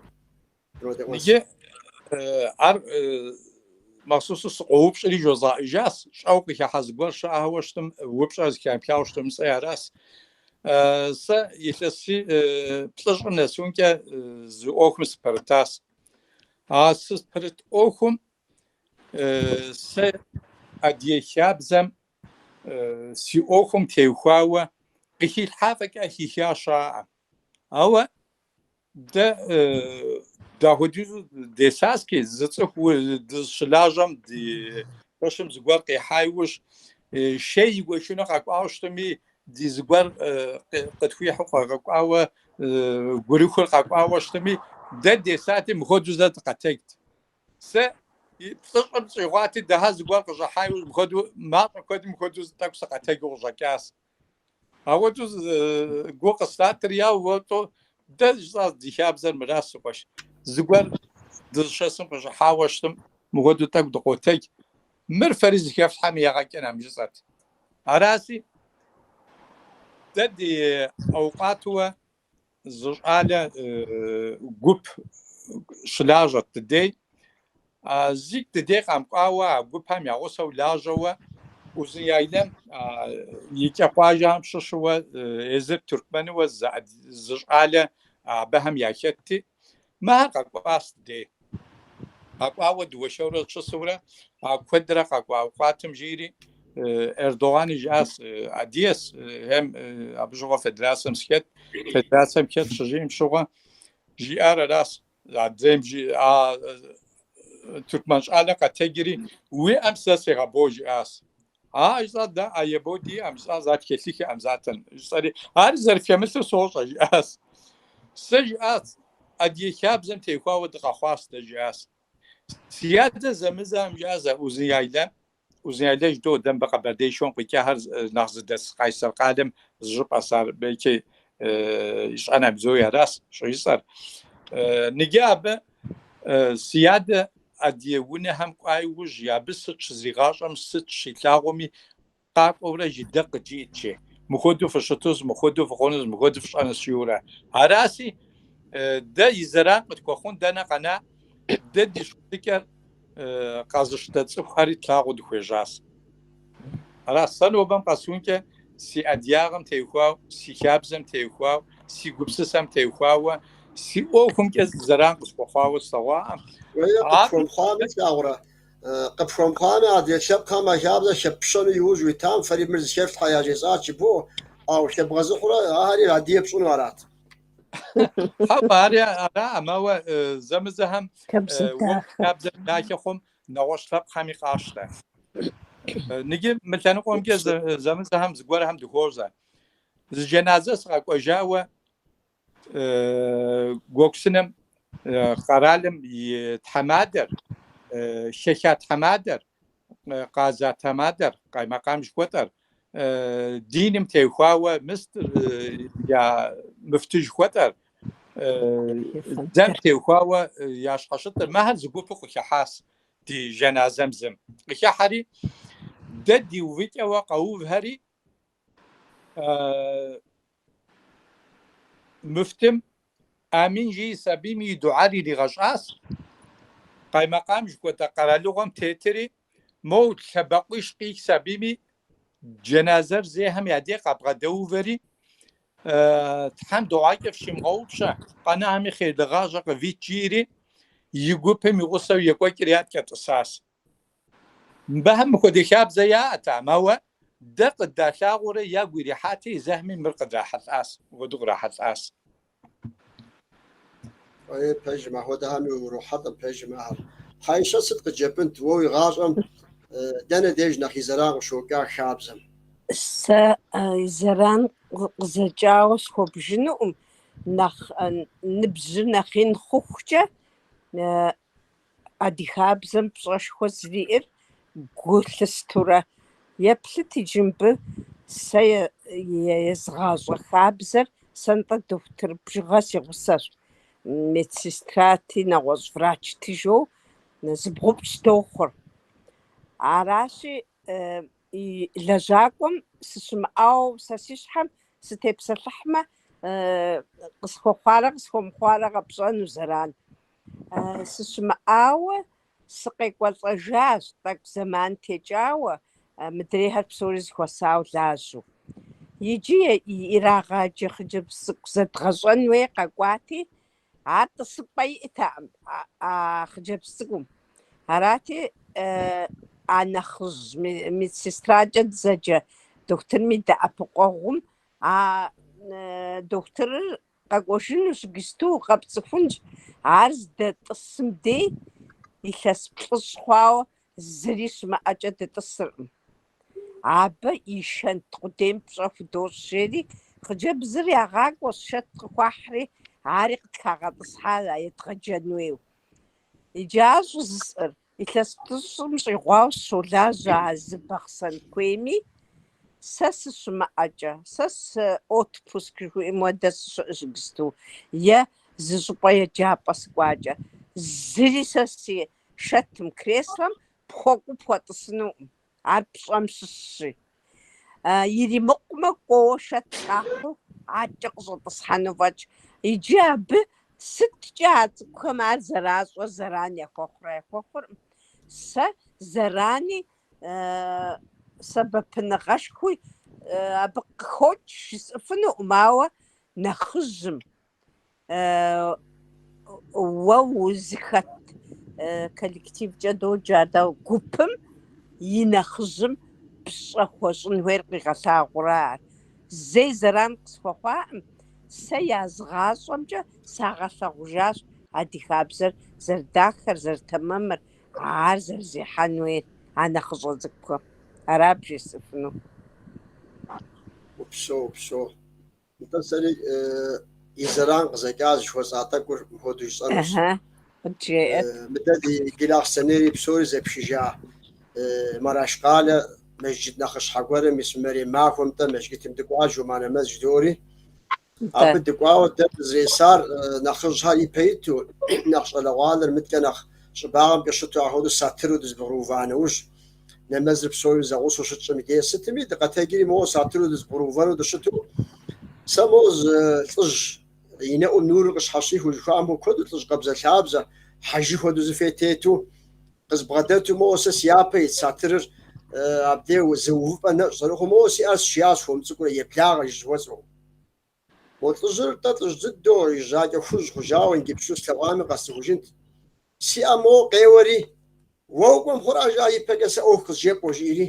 дродэӏуэс. Иджы ар махъсусу сыкъоупщӏри жозгъэӏэжащ, щӏэуэ къыхыхьа зыгуэр щыӏэуэ щытым, упщӏэр зыхамыхауэ щытым жысӏэри аращ. Сэ илъэс плӏыщӏым нэсункӏэ зы ӏуэхум сыпэрытащ. А сыпэрыт ӏуэхум Сэ Адыгэ хабзэм си ӏуэхум теухуауэ къыхилъхьа фӏэкӏа хиха щыӏэкъым. Ауэ дэ дапхуэдизу десаски зы цӏыху дыщылажьэм ди пэшым зыгуэр къихьа иужь шей игуэшыну къэкӏуауэ щытми ди зыгуэр къытхуихьу къагъэкӏуауэ гурыхур къэкӏуауэ щытми дэ десати мыхуэдэу зэ дыкъэтэджт. Сэ плӏыщӏым щӏигъуати, дыхьэ зыгуэр къыщӏыхьауэ мыпхуэдэу, мащӏэ куэдым мыхуэдэу тӏэкӏу сыкъэтэджу къыщӏэкӏащ. Апхуэдэу гу къыслъатэри яуэ уэтӏэ, дэ жысӏащ ди хабзэр мыращ, си къуэш. Зыгуэр дызыщэсым къыщӏыхьауэ щытым, мыпхуэдэу тӏэкӏу дыкъотэдж. Мыр фэри зыхэфлъхьэм ягъэ кӏынкъым жысӏэт. Аращи, дэ ди авукату зы щӏалэ гуп щылажьэт ди дей зикӏ ди дей къэмыкӏуауэ а гупым я гъусэу лажьэуэ узын яйлэм и кӏэ къуажэхэм щыщыуэ езыр тюркменыуэ зы щӏалэ абыхэм яхэтти Мэ ар къэкӏуащ ди дей. Къэкӏуауэ дыуэршэрурэ щысурэ, а куэдрэ къэкӏуа къуатым жиӏэри, Эрдогъани жиӏащ Адыгэс, хьем, абы щыгъуэ федерацэм сыхэт, федерацэм хэт щыжиӏэм щыгъуэ, жиӏар аращ, адрейм жи, а Тюркмен щӏалэр къэтэджри, уи ӏэм сэ сегъэбэу жиӏащ. А жысӏа дэ ӏэ ебэу диӏэӏым жысӏа зат хэлъыхэӏым затэн жысӏэри ар зэрыфхэмылъыр сощӏэ жиӏас. Сэ жиӏас адыгэ хабзэм техуауэ дыкъэхъуас дэ жиӏас. Си адэ зэмызэхэм жиӏас узын яйлэ узын яйлэ жыдоӏэ дэ мыбы Къэбэрдеишхуэм къикӏахэр нэхъ зыдэс Къайсэр къалэм зы щӏыпӏэс ар белки ищӏэнӏым псоми арас щӏыжысӏэр. Ныджы абы Си адэ Адыгэ унэхэм кӏуа иужь, абы сыт щызигъащӏэм сыт щилъагъуми, къакӏуэурэ жи дэ къыджиӏэт жи, мыхуэдэу фыщытус, мыхуэдэу фыхъунус, мыхуэдэу фщӏэнус жиӏэурэ. Араси, дэ и зэран къытхуэхъун дэнэ къэна, дэ ди щытыкӏэр къэзыщтэ цӏыхухэри тлъагъуу дыхуежьащ. Ара сэ нобэм къэсункӏэ си адыгагъэм техуауэ, си хабзэм техуау, си гупсысэм техуауэ, си ӏуэхумкӏэ зэран къысхуэхъуауэ слъэгъуакъым. Къыпхуэмыхъуами, слъагъурэ? Къыпхуэмыхъуами, адрей лъэпкъхэм а хабзэр хэппщэну иужь уитам, фэри мыр зыхэфлъхьэ яжесӏащ, жыбоӏэ. Ауэ хэбгъэзыхьурэ, ахэр адыгэ пщӏыну арат. Хьэуэ, ар араӏым, ауэ зэмызэхэм хабзэ дахэ хъум нэгъуэщӏ лъэпкъхэми къащтэ. Ныджы мы лъэныкъуэмкӏэ зэмызэхэм зыгуэрхэм дыхуозэ. Зы джэназэ сыкъэкӏуэжауэ Гуэгусыным къэралым и тхьэмадэр, хэха тхьэмадэр, Къаза тхьэмадэр, Къаймакъам жыхуэтӏэр, диным техуауэ муфтыр я муфты жыхуэтӏэр, дзэм техуауэ я щхьэщытыр, мэхэр зы гупу къыхыхьащ ди жэназэм зым. Къыхыхьэри, дэ ди увыкӏэуэ къэувхэри, Муфтым Амин жиӏэс абийми дуӏэр иригъэщӏащ, къаймэкъам жыхуэтӏэ къэралыгъуэм тетри, моу лъэбакъуищ къихьс абийми джэназэр зейхэм я деж къабгъэдэувэри, Тхьэм дыгъуакӏэ фщимыгъэгъупщэ, къэнахэми хъейрлы гъащӏэ къывит, жиӏэри, и гупым и гъусэу екӏуэкӏри адкӏэ тӏысащ. Мыбыхэм мыхуэдэ хабзэ яӏэтэкъым, ауэ дэ къыддалъагъуурэ ягу ирихьати, зэхми мыр къыдрахьэлӏащ, мыпхуэдэу кърахьэлӏащ. Фӏей, пэжым, апхуэдэхэми урохьэлӏэ, пэжым, ахэр. Хьэишэт, сыт къыджепӏэнт уэ уи гъащӏэм, дэнэ деж нэхъ и зэран къыщокӏа хабзэм? Сэ и зэран къызэкӏауэ схуэбжынукъым, нэхъ ныбжьыр нэхъ ин хъухукӏэ, Адыгэ хабзэм пщӏэшхуэ зэриӏэр гу лъыстэурэ, еплъыт иджы мыбы сэ езыгъащӏэ хабзэр, сэ нтӏэ дохутыр бжыгъэ си гъусэщ, медсестрати, нэгъуэщӏ врачти жоу, зыбгъупщӏ дохъур. Аращи, и лэжьакӏуэм сыщымыӏауэ сэ си щхьэм сытепсэлъыхьмэ, къысхуэхъуарэ къысхуэмыхъуарэ къэпщӏэну зэран. Сыщымыӏауэ сыкъекӏуэлӏэжащ, тӏэкӏу зэман текӏауэ, мыдрейхэр псори зэхуэсауэ лажьэу. Иджы ирагъаджэ хъыджэбз цӏыкӏу зэдгъэщӏэн хуей къэкӏуати, Ар тӏысыпӏэ иӏэтэкъым а хъыджэбз цӏыкӏум. Арати, а нэхъыжь медсестракӏэ дызэджэ дохутырым и дэӏэпыкъуэгъум а дохутырыр къэкӏуэжынущ, иджысту къэпцӏыхунщ, ар здэтӏысым дей илъэс плӏыщӏ хъуауэ Зыри щымыӏэкӏэ дытӏысыркъым. Абы и шэнт къудейм пщӏэ худощӏ, жери хъыджэбзыр ягъакӏуэщ, шэт къыхуахьри, ари къытхагъэтӏысхьа а едгъэджэн хуейу. Иджы ар щӏыжысӏэр, илъэс плӏыщӏым щӏигъуауэ сыщолажьэ а зы Бахъсэн куейми, сэ сыщымыӏэкӏэ, сэ сы отпуск жыхуиӏэм хуэдэ сыщыӏэщ иджысту, е зы щӏыпӏэ еджапӏэ сыкӏуакӏэ, зыри сэ си Шэтым, креслэм пхуэкӏуу пхуэтӏысынукъым, ар пщӏэм щыщщи. Иримыкъумэ, кӏуэуэ шэт къахьу адэкӏэ къыщӏэтӏысхьэну фӏэкӏ. Иджы абы сыткӏэ а цӏыкӏухэм ар зэращӏэр зэран яхуэхъурэ яхуэхъуркъым. Сэ зэрани сэбэпыныгъэшхуи абы къыхокӏ жысӏыфынукъым, ауэ нэхъыжьым. уэ узыхэт коллективкӏэ доджэ дэ гупым и нэхъыжьым пщӏэ хуэщӏын хуейр къигъэлъагъурэ ар. Зэи зэран къысхуэхъуакъым, сэ язгъащӏэмкӏэ сагъэлъэгъужащ адыгэ хабзэр зэрыдахэр, зэрытэмэмыр, ар зэрызехьэн хуейр а нэхъыщӏэ цӏыкӏухэм. Ара бжесӏэфынур? Упсэу, упсэу. Нтӏэ, сэри и зэран къызэкӏа жыхуэсӏа тӏэкӏур мыпхуэдэу жысӏэнущ. Ыхьы, къыджеӏэт. Мыдэ ди Гилахъсэнейри псори зэпшыжа Марашкъалэ мэжджыт нэхъыщхьэ гуэрым ис Мэрем махуэм-тӏэ мэжгытым дыкӏуа Жума нэмэз жыдоӏэри. Нтӏэ. Абы дыкӏуауэ дэ дызэресар нэхъыжьхэр ипэ иту, нэхъ щӏалэгъуалэр мыдэкӏэ нэхъ щӏыбагъым къыщыту ахуэдэу сатыру дызэбгъурыува нэужь, нэмэзыр псори зэгъусэу щытщӏым и дей сытми, дыкъэтэджри моуэ сатыру дызэбгъурыувэну дыщыту, сэ моуэ зы лӏыжь и нэӏум нурыр къыщхьэщихыу жыхуаӏэм хуэдэу лӏыжь къабзэлъабзэ, хьэжы хуэдэу зы фэи тету, къызбгъэдэту моуэ сэ си япэ ит сатырыр абдей зы увыпӏэ нэщӏ зэрыхъуу моуэ си ӏэр сшиящ хуэм цӏыкӏурэ еблагъэ жыхуэсӏэу. Мо лӏыжьыр тӏэ лӏыжь дыдэу, и жьакӏэ хужь хъужауэ иджыпсту слъэгъуами къэсцӏыхужынт. Си ӏэм моуэ къеуэри, Уэ укӏуэм хъуращ, а ипэкӏэ сэ ӏуэху къызжепӏэу, жиӏэри,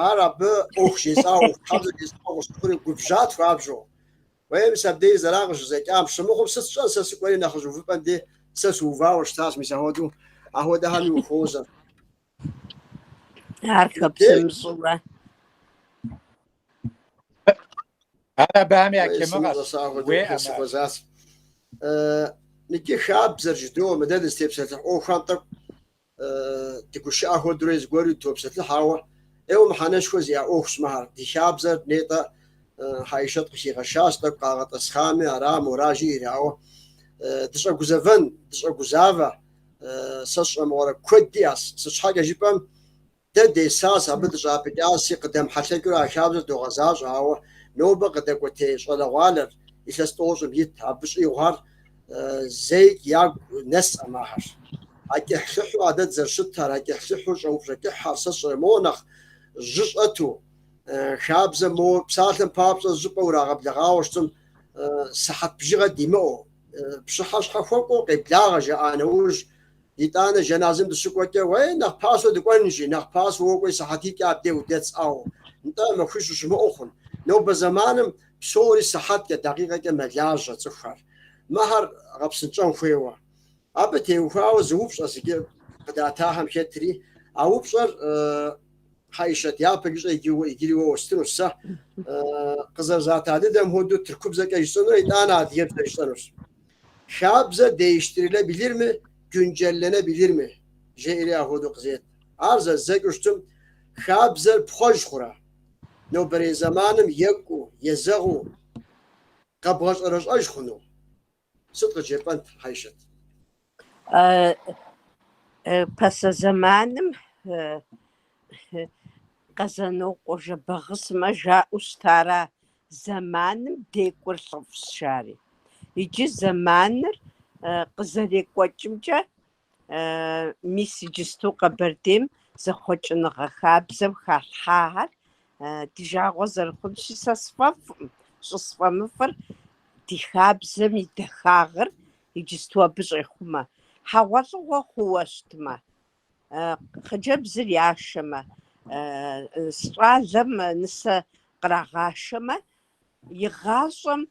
ар абы ӏуэху жесӏауэ, ӏуэхутхьэбзэ жесӏауэ къыщыхъури, губжьат хуабжьу. Уей, мис абдей и зэран къыщызэкӏам, щымыхъум сыт сщӏэн, сэ сыкӏуэри нэхъыжь увыпӏэм де сэ сыувауэ щытащ, мис ахуэдэу, ахуэдэхэми ухуозэ. Ар хэпсымыщӏурэ. Ар абыхэм я темыгъэщ. Щӏэсагъуэ дохэ уеӏэмэ. сыхуэзащ. Э, Икӏи хабзэр жыдоӏэ мыдэ дызытепсэлъыхь ӏуэхухэм тӏэкӏу э, дыгушыӏэ хуэдэурэ зыгуэру дытопсэлъыхь, ауэ ӏейуэ мыхьэнэшхуэ зиӏэ ӏуэхущ мыхьэр. Ди хабзэр нетӏэ э, Хьэишэт къыхигъэщащ, тӏэкӏу къагъэтӏэсхъами, ара моражи ирауэ. Э, Дыщӏэгузэвэн, дыщӏэгузавэ. Сэ сщӏэмыгъуэрэ куэд иӏэс. Сыт щхьэкӏэ жыпӏэм, дэ десащ, абы дыщӏапӏыкӏаси, къыдэмыхьэлъэкӏыурэ а хабзэр догъэзащӏэ, ауэ нобэ къыдэкӏуэтей щӏалэгъуалэр илъэс тӏощӏым ит, абы щӏигъухэр зэикӏ ягу нэсӏэм ахэр. А кӏыхьлӏыхьу а дэ дызэрыщытар, а кӏыхьлӏыхьу щӏэупщӏэкӏыхьхэр сэ сщӏэрэ моуэ нэхъ жьы щӏэту, хабзэм моуэ псалъэм папщӏэ щӏыпӏэ урагъэблэгъауэ щытым, сыхьэт бжыгъэ димыӏэу, Пщыхьэщхьэ хуэкӏуэу къеблагъэ, жаӏа нэужь, итӏанэ жэназэм дыщыкӏуэкӏэ, уей нэхъ пасэу дыкӏуэн жи, нэхъ пасэу уокӏуэри сыхьэтитӏкӏэ абдей удэсщ, ӏэу, нтӏэ, махуищ ущымыӏэу хъун. Нобэ зэманым псори сыхьэткӏэ, дакъикъэкӏэ мэлажьэ цӏыхухэр, мыхьэр гъэпсынщӏэн хуейуэ. Абы теухуауэ зы упщӏэ зыгьы къыдатахэм хетри, а упщӏэр, Хьэишэт, япэщӏыкӏэ иджыри уэ уэстынущ сэ. Къызэрызата дыдэм хуэдэу тыркубзэкӏэ жысӏэнурэ итӏанэ адыгэбзэ жысӏэнущ. Хабзэ деиштирилэбилир ми, гюнджэллэнэбилир ми, жеӏэри ахуэдэу къызет. Ар зэздзэкӏыу щытым, хабзэр пхъуэж хъурэ? Нобэрей зэманым екӏуу, езэгъыу къэбгъэщӏэрэщӏэж хъуну? Сыт къыджепӏэнт Хьэйшэт? Пасэ зэманым Къэзанокъуэ Жэбагъысымэ жаӏэу щытара, Зэманым декӏур лӏыфӏщ, жари. Иджы зэманыр къызэрекӏуэкӏымкӏэ Мис иджысту Къэбэрдейм зэхъуэкӏыныгъэ хабзэм халъхьахэр ди жагъуэ зэрыхъунщи, сэ сфӏэфӏкъым, щӏысфӏэмыфӏыр ди хабзэм и дахагъыр иджысту абы щӏехъумэ, хьэгъуэлӏыгъуэ хъууэ щытмэ, хъыджэбзыр яшэмэ, щӏалэм нысэ кърагъашэмэ, Игъащӏэм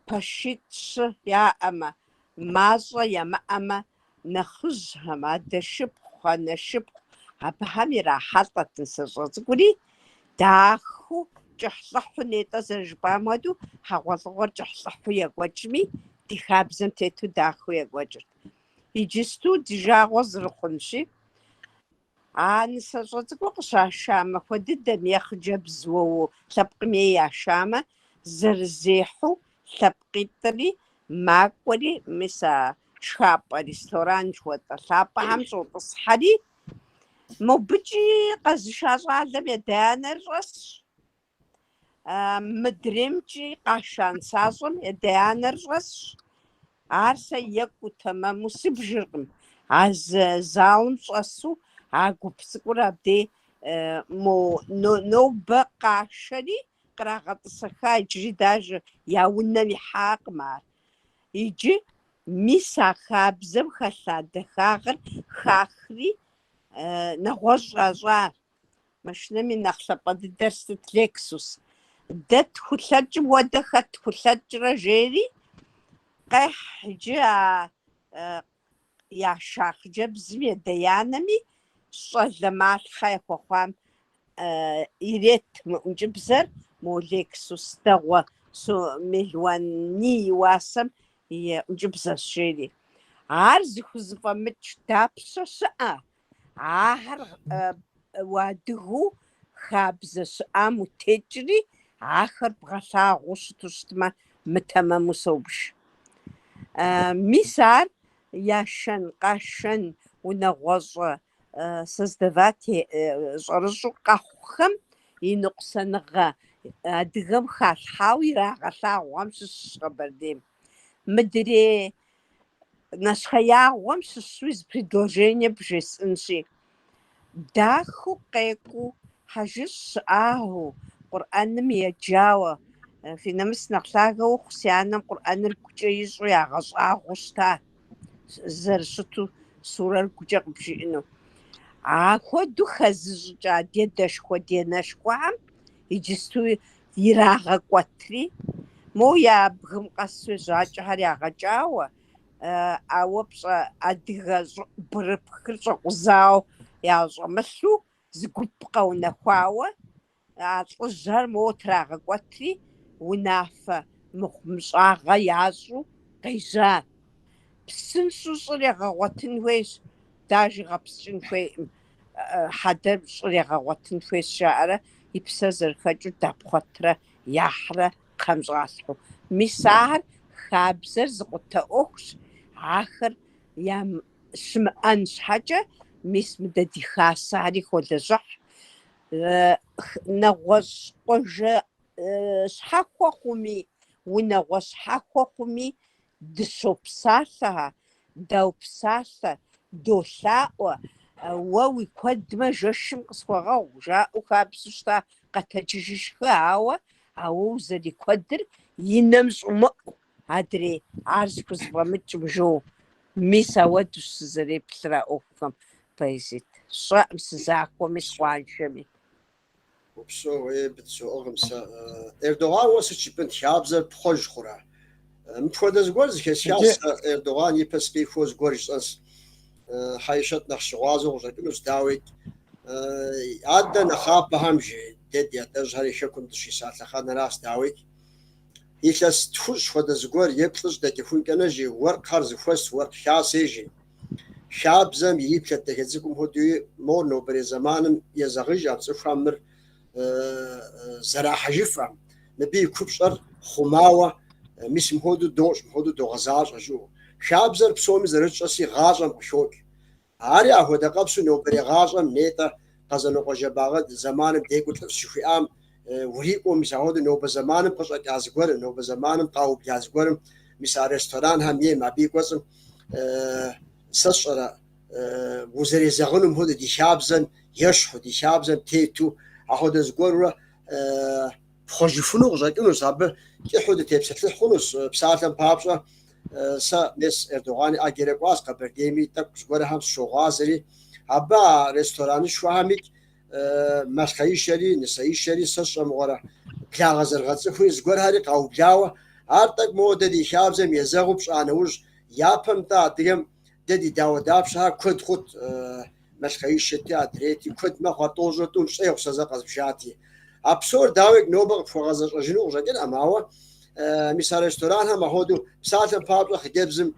пэшитӏ-щы яӏэмэ, мащӏэ ямыӏэмэ, нэхъыжьхэм, адэшыпхъу, анэшыпхъу, абыхэм ирахьэлӏэт нысащӏэ цӏыкӏури, дахэу кӏыхьлӏыхьу нетӏэ, зэрыжыпӏам хуэдэу, хьэгъуэлӏыгъуэр кӏыхьлӏыхьу екӏуэкӏми, ди хабзэм тету дахэу екӏуэкӏырт. Иджысту ди жагъуэ зырыхъунщи, А нысащӏэ цӏыкӏур къыщаша махуэ дыдэм е хъыджэбз уэ уи лъэпкъым ей яшамэ, зэрызехьэу лъэпкъитӏри, макӏуэри, мис а шхапӏэ ресторан жыхуэтӏэ лъапӏэхэм щӏотӏысхьэри, мобыкӏи къэзыша щӏалэм и адэ-анэр щӏэсщ. Мыдремкӏи къаша нысащӏэм и адэ-анэр щӏэсщ. Ар сэ екӏуу тэмэму сыбжыркъым. А зы залым щӏэсу а гуп цӏыкӏур абдей мо нобэ къашэри кърагъэтӏысэха иджыри дажэ я унэм ихьакъым ар. Иджы мис а хабзэм хэлъа дахагъыр хахри нэгъуэщӏ щӏащӏа Машинэми нэхъ лъапӏэ дыдэр сыт, Лексус. Дэ тхулъэкӏым хуэдэ хэт хулъэкӏрэ, жери, къехь иджы а яша хъыджэбзым и адэ-анэми, щӏалэ малъхъэ яхуэхъуам ирет мы ӏункӏыбзэр, мо Лексус дэгъуэ сом мелуаний и уасэм и ӏункӏыбзэщ, жери. Ар зыхузэфӏэмыкӏ дапщэ щыӏэ? Ахэр уадыгэу хабзэ щыӏам утекӏри, ахэр бгъэлъагъуу щыту щытмэ, мытэмэму собж. Мис ар яшэн, къашэн, унагъуэщӏэ создавать щӏэрыщӏу къэхъухэм и ныкъусаныгъэ адыгэм халъхьауэ ирагъэлъагъухэм щыщщ Къэбэрдейм. Мыдрей нэщхъеягъуэм щыщуи зы предложение бжесӏэнщи. Дахэу къекӏуу, хьэжыщӏ щыӏагъэу, Къурӏэным еджауэ. Фи нэмыс нэхъ лъагэ ухъу, си анэм Къурӏэныр гукӏэ ищӏу ягъэщӏагъуэу щыта, зэрыщыту сурэр гукӏэ къыбжиӏэну. Ахуэдэу хэзыщӏыкӏа ди адэшхуэ-ди анэшхуэхэм иджысту ирагъэкӏуэтри, моуэ я бгым къэсу жьакӏэхэр ягъэкӏауэ, ауэ пщӏэ адыгэ щӏыӏубгырыпхыр щӏэкъузау ящӏэмылъу, зы гуп къэунэхуауэ, а лӏыжьхэр моуэ трагъэкӏуэтри, унафэ мыхъумыщӏагъэ ящӏу къежьа. Псынщӏэу щӏыр егъэгъуэтын хуейщ, даже гъэпскӏын хуейкъым. хьэдэр щӏыр егъэгъуэтын хуейщ, жаӏэрэ и псэр зэрыхэкӏыу дапхъуэтрэ яхьрэ кхъэм щӏалъхьэу. Мис ахэр хабзэр зыкъутэ ӏуэхущ, ахэр щымыӏэн щхьэкӏэ, мис мыдэ ди хасэри холэжьыхь. Нэгъуэщӏ къуажэ щхьэхуэ хъуми, унагъуэ щхьэхуэ хъуми, Дыщопсалъэ-а, даупсалъэ, долъаӏуэ, уэ уикуэдмэ жэщым къысхуэгъэгъу, жаӏэу хабзэу щыта къэтэджыжи шхы, ауэ ауэ узэрикуэдыр и нэм щӏумыӏу, адрей, ар зыхузэфӏэмыкӏым жо. Мис ауэдущ сызэреплъыр а ӏуэхухэм, поэзит сщӏэкъым, сызахуэми, сыкъуаншэми. Упсэу, ей, быдсоӏыгъым сэ. Эрдогъан уэ сыт жыпӏэн, ди хабзэр пхъуэж хъурэ? Мыпхуэдэ зыгуэр зыхэсхащ Иджы- сэ Эрдогъан ипэ сыкъихуэу зыгуэр жысӏэнс э, Хьэишэт нэхъ щыгъуазэу къыщӏэкӏынущ, дауикӏ, э, адэ нэхъапэхэм жи, дэ ди адэжьхэр и хэкум дыщиса лъэхъэнэращ, дауикӏ, илъэс тхущӏ хуэдэ зыгуэр е плӏыщӏ дэкӏыхункӏэ нэжи, уэркъхэр зыхуэс уэркъ хасэ жи. Хабзэм ириплъэт дахэ цӏыкӏум хуэдэуи, мор нобэрей зэманым езэгъыж а цӏыхухэм мыр зэрахьэжыфым, мыбы и купщӏэр хъумауэ, мис мыхуэдэу дощӏ, мыхуэдэу догъэзащӏэ жиӏэу. Хабзэр псоми зэрытщӏэси гъащӏэм къыхокӏ. Ари ахуэдэ къабзэу нобэрей гъащӏэм нетӏэ Къэзанокъуэ Жэбагъы зэманым декӏур лӏыфӏщ жыхуиӏам, Урикӏуэу, мис ахуэдэ нобэ зэманым къыщӏэкӏа зыгуэрым, нобэ зэманым къаубла зыгуэрым, мис а ресторанхэм ейм, абы и кӏуэцӏым сэ сщӏэрэ, узэрезэгъынум хуэдэу, ди хабзэм ещхьу, ди хабзэм тету, ахуэдэ зыгуэрурэ пхъуэжыфыну къыщӏэкӏынущ, абы кӏыхьу дытепсэлъыхь хъунущ. Псалъэм папщӏэ, сэ мес Эрдогъан и ӏэгерэ кӏуащ Къэбэрдейми, тӏэкӏу зыгуэрхэм сыщогъуазэри, абы а ресторанышхуэхэм икӏ Малъхъэишэри, нысэишэри сэ сщӏэ мыгъуэрэ? Благъэ зэрыгъэцӏыхури зыгуэрхэри къаублауэ, ар тӏэкӏу моуэ дэ ди хабзэм езэгъыу пщӏа нэужь, япэм-тӏэ адыгэм дэ ди дауэ дапщэхэр куэд хъут, Малъхъэишэти, адрейти, куэд мэхъу, ар тӏощӏрэ тӏум щӏегъу сэ зэ къэзбжати. А псор, дауи, нобэ къыпхуэгъэзэщӏэжыну къыщӏэкӏынӏым, ауэ Мис а ресторанхэм ахуэдэу псалъэм папщӏэ хъыджэбзым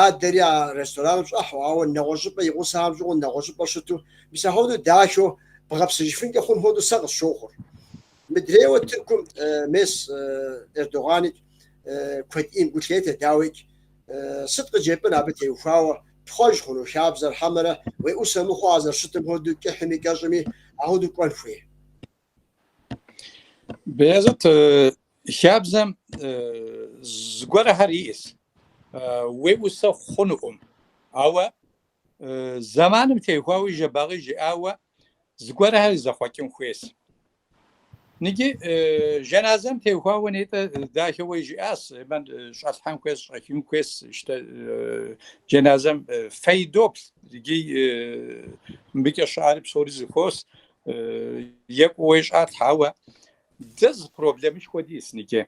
ядэри а рестораным щӏэхьэу, ауэ нэгъуэщӏыпӏэ и гъусэхэм щӏыгъуу нэгъуэщӏыпӏэ щыту, мис ахуэдэу дахэу бгъэпсыжыфынкӏэ хъун хуэдэу сэ къысщохъур. Мыдрейуэ Тыркум мес Эрдогъаныкӏ куэд ӏейм гу лъетэ, дауикӏ, сыт къыджепӏэн абы теухуауэ, пхъуэж хъуну хабзэр хьэмэрэ уеӏусэ мыхъуу а зэрыщытым хуэдэу кӏыхьми кӏэщӏми ахуэдэу кӏуэн хуей? Беязыт, хабзэм зыгуэрхэр иӏэщ. Уеӏусэ хъунукъым. Ауэ зэманым теухуауэ Жэбагъи жиӏауэ зыгуэрхэр зэхъуэкӏын хуейщ. Ныджы жэназэм теухуауэ нетӏэ дахэуэ жиӏащ, емэн щӏэлъхьэн хуейщ, щӏэхын хуейщ, щтэ жэназэм фей доплъ, икӏи мыбыкӏэ щыӏари псори зыхуос. Екӏууэ щӏалъхьэ, ауэ дэ зы проблемышхуэ диӏэс, Нике.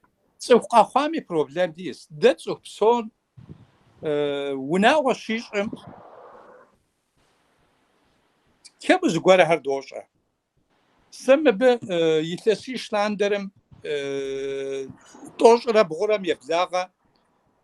Цӏыху къэхъуами проблем диӏэс. Дэ цӏыху псор унагъуэ щищӏым кему зыгуэрхэр дощӏэ. Сэ мыбы илъэсищ лъандэрым тӏощӏрэ бгъурэм еблагъэ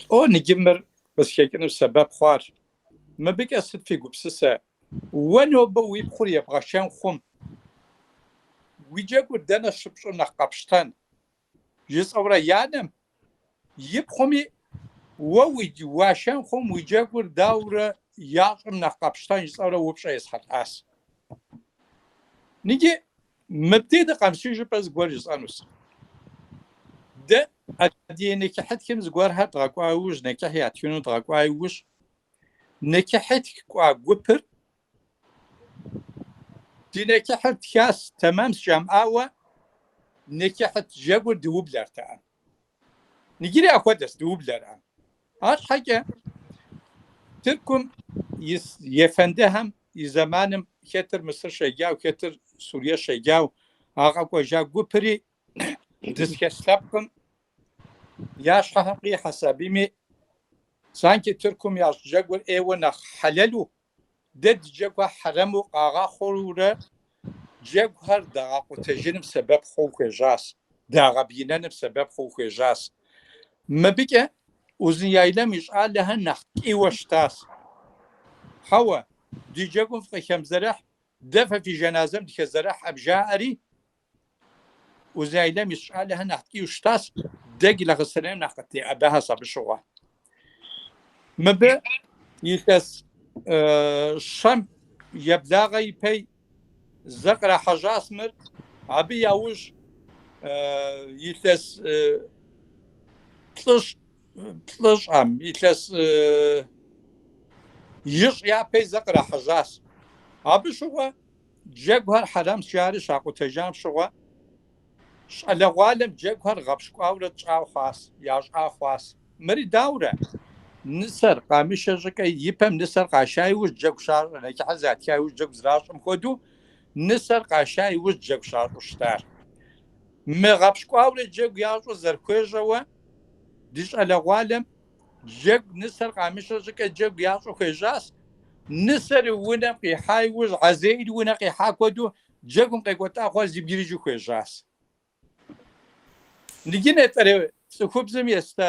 Лӏо ныджы мыр къысхекӏыныр сэбэп хъуар. Мыбыкӏэ сыт фи гупсысэ? Уэ нобэ уи пхъур ебгъэшэн хъум. Уи джэгур дэнэ щыпщӏым нэхъ къэпщтэн? Жысӏэурэ и анэми пхъуми, Уэ уашэн хъум, уи джэгур даурэ ящӏым нэхъ къэпщтэн? жысӏэурэ упщӏэ есхьэлӏащ. Ныджы Мыбдеж дыкъэмыс щӏыкӏэ зыгуэр жысӏэнущ. Дэ адыгэ нэкӏыхьытхым зыгуэрхэр дгъэкӏуа иужь, нэкӏыхь ятхыну дгъэкӏуа иужь, нэкӏыхьытх кӏуа гупыр ди нэкӏыхьыр тхащ, тэмэмщ жамыӏауэ нэкӏыхьытх джэгур дыублэртэкъым. Ныджыри ахуэдэщ, дыублэркъым. Арщхьэкӏэ Тыркум ис ефэндыхэм и зэманым хэтыр Мысыр щеджау, хэтыр Сурие щеджау а къэкӏуэжа гупри дызхэс лъэпкъым я щхьэхэм къихьэ сабийми, санкӏи Тыркум ящӏ джэгур ӏейуэ нэхъ хьэлэлу Дэ дыджэгухэр хьэрэму къагъэхъуурэ джэгухэр дагъэкъутэжыным сэбэп хъууэ хуежьащ, дагъэбгынэным сэбэп хъууэ хуежьащ. Мыбыкӏэ Узуняйлэм и щӏалэхэр нэхъ ткӏийуэ щытащ. Хьэуэ, ди джэгум фыкъыхэмызэрыхь, дэ фэ фи жаназэм дыхэзэрыхьэм, жаӏэри, Узуняйлэм ис щӏалэхэр нэхъ ткӏийуэ щытащ, дэ Гилахъстэнейм нэхъ къытеӏэбэхьащ абы щыгъуэ. Мыбы илъэс щэм еблагъэ ипей зэ кърахьэжьащ мыр, абы яужь илъэс плӏыщӏ, плӏыщӏэм илъэс ищӏ япей зэ кърахьэжьащ. Абы щыгъуэ Джэгухэр хьэрамс жари щакъутэжам щыгъуэ, щӏалэгъуалэм джэгухэр гъэпщкӏуаурэ тщӏа хъуас, ящӏа хъуас. Мыри даурэ? Нысэр къамышэ щӏыкӏэ и пэм нысэр къаша иужь джэгу щащӏэ, нэчыхьыр затха иужь джэгу зращӏэм хуэдэу, нысэр къаша иужь джэгу щащӏэу щытар. Мы гъэпщкӏуаурэ джэгу ящӏыр зэрыхуежьэуэ, ди щӏалэгъуалэм Джэгу нысэр къамышэ щӏыкӏэ джэгу ящӏу хуежьащ. Нысэр и унэм къихьа иужь Хьэзраил унэ къихьа хуэдэу джэгум къекӏуэлӏахэр зэбгрыжу хуежьащ. Ныджы нетӏэрей цӏыхубзым еста,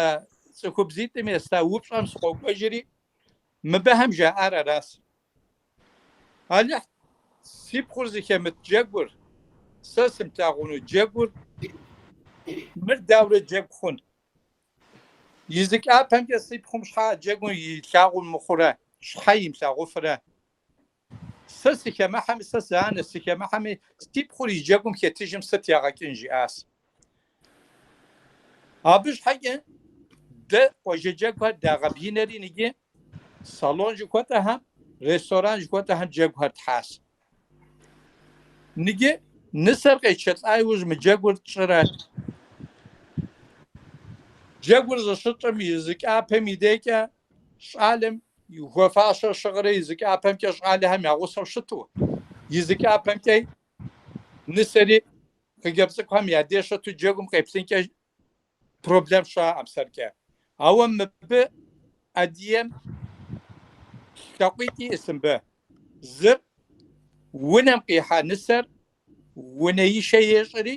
цӏыхубзитӏым еста упщӏэм сыкъокӏуэжри, мыбыхэм жаӏар аращ. Алыхь, си пхъур зыхэмыт джэгур, сэ сымылъагъуну джэгур, мыр дауэрэ джэгу хъун? И зы кӏапэмкӏэ си пхъум щхьэ джэгум илъагъу мыхъурэ, щхьэ имылъагъуфырэ? Сэ сыхэмыхьэми, сэ сыанэщ, сыхэмыхьэми, си пхъур и джэгум хэтыжым сыт ягъэкӏын? жиӏащ. Абы щхьэкӏэ дэ къуажэ джэгухэр дагъэбгынэри, иджы салон жыхуэтӏэхэм, ресторан жыхуэтӏэхэм джэгухэр тхьащ. Ныджы нысэр къетшэлӏа иужь мы джэгур тщӏырэ? Джэгур зыщытщӏым и зы кӏапэм и декӏэ щӏалэм и хуэфащэ щыгърэ и зы кӏапэмкӏэ щӏалэхэм я гъусэу щыту, и зы кӏапэмкӏэ нысэри хъыджэбз цӏыкӏухэм я деж щыту джэгум къеплъынкӏэ проблем щыӏэӏым сэркӏэ. Ауэ мыбы ӏэдием лъакъуитӏ иӏэс мыбы. Зыр унэм къихьа нысэр унэишэ ещӏри,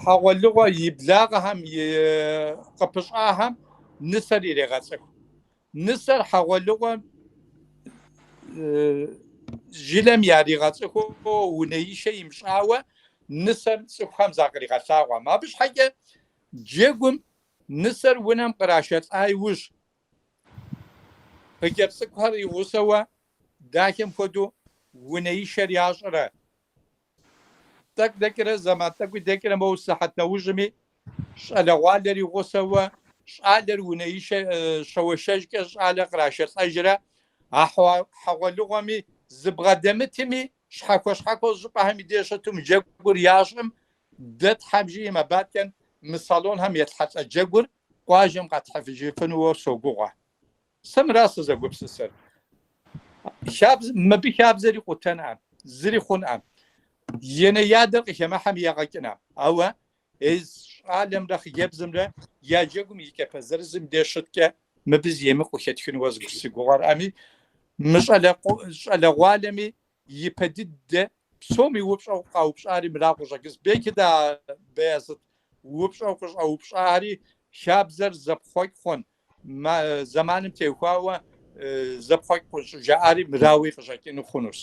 хьэгъуэлӏыгъуэ и благъэхэм къыпыщӏахэм нысэр ирегъэцӏыху. Нысэр хьэгъуэлыгъуэм жылэм яригъэцӏыхууэ унэишэ имыщӏауэ нысэм цӏыхухэм закъригъэлъагъуэм. Абы щхьэкӏэ джэгум нысэр унэм кърашэлӏа иужь, хъыджэбз цӏыкӏухэр игъусэуэ, дахэм хуэдэу унэишэр ящӏрэ? Тӏэкӏу дэкӏрэ зэман тӏэкӏуи дэкӏрэ моуэ сыхьэт нэужьми, щӏалэгъуалэр и гъусэуэ, щӏалэр унэишэ щэуэшэжкӏэ щӏалэр кърашэлӏэжрэ, а хьэгъуэлыгъуэми зыбгъэдэмытми, щхьэхуэ-щхьэхуэу щӏыпӏэхэм и деж щытым джэгур ящӏым, дэ Тхьэм жиӏэм абы адэкӏэ мы салонхэм елъхьэлӏэ джэгур къуажэм къэтхьэфыжыфынууэ согугъуэ. Сэ мыра сызэгупсысыр. Хабз мыбы хабзэри къутэнӏэм, зыри хъунӏэм. Янэ-ядэр къыхэмыхьэм ягъэ кӏынӏэм. Ауэ езы щӏалэмрэ хъыджэбзымрэ я джэгум и кӏапэ зырызым де щыткӏэ мыбы зы емыкӏу хэтхынуэ си гугъэрӏэми, мы щӏалэгъуалэми и пэ дыдэ псоми упщӏэу къаупщӏари мыра къыщӏэкӏынс, белки дэ, Беязыт упщӏэу къыщӏэупщӏари хабзэр зэпхъуэкӏ хъун, Зэманым теухуауэ зэпхъуэкӏ къыщӏыжаӏари мырауи къыщӏэкӏыну хъунущ.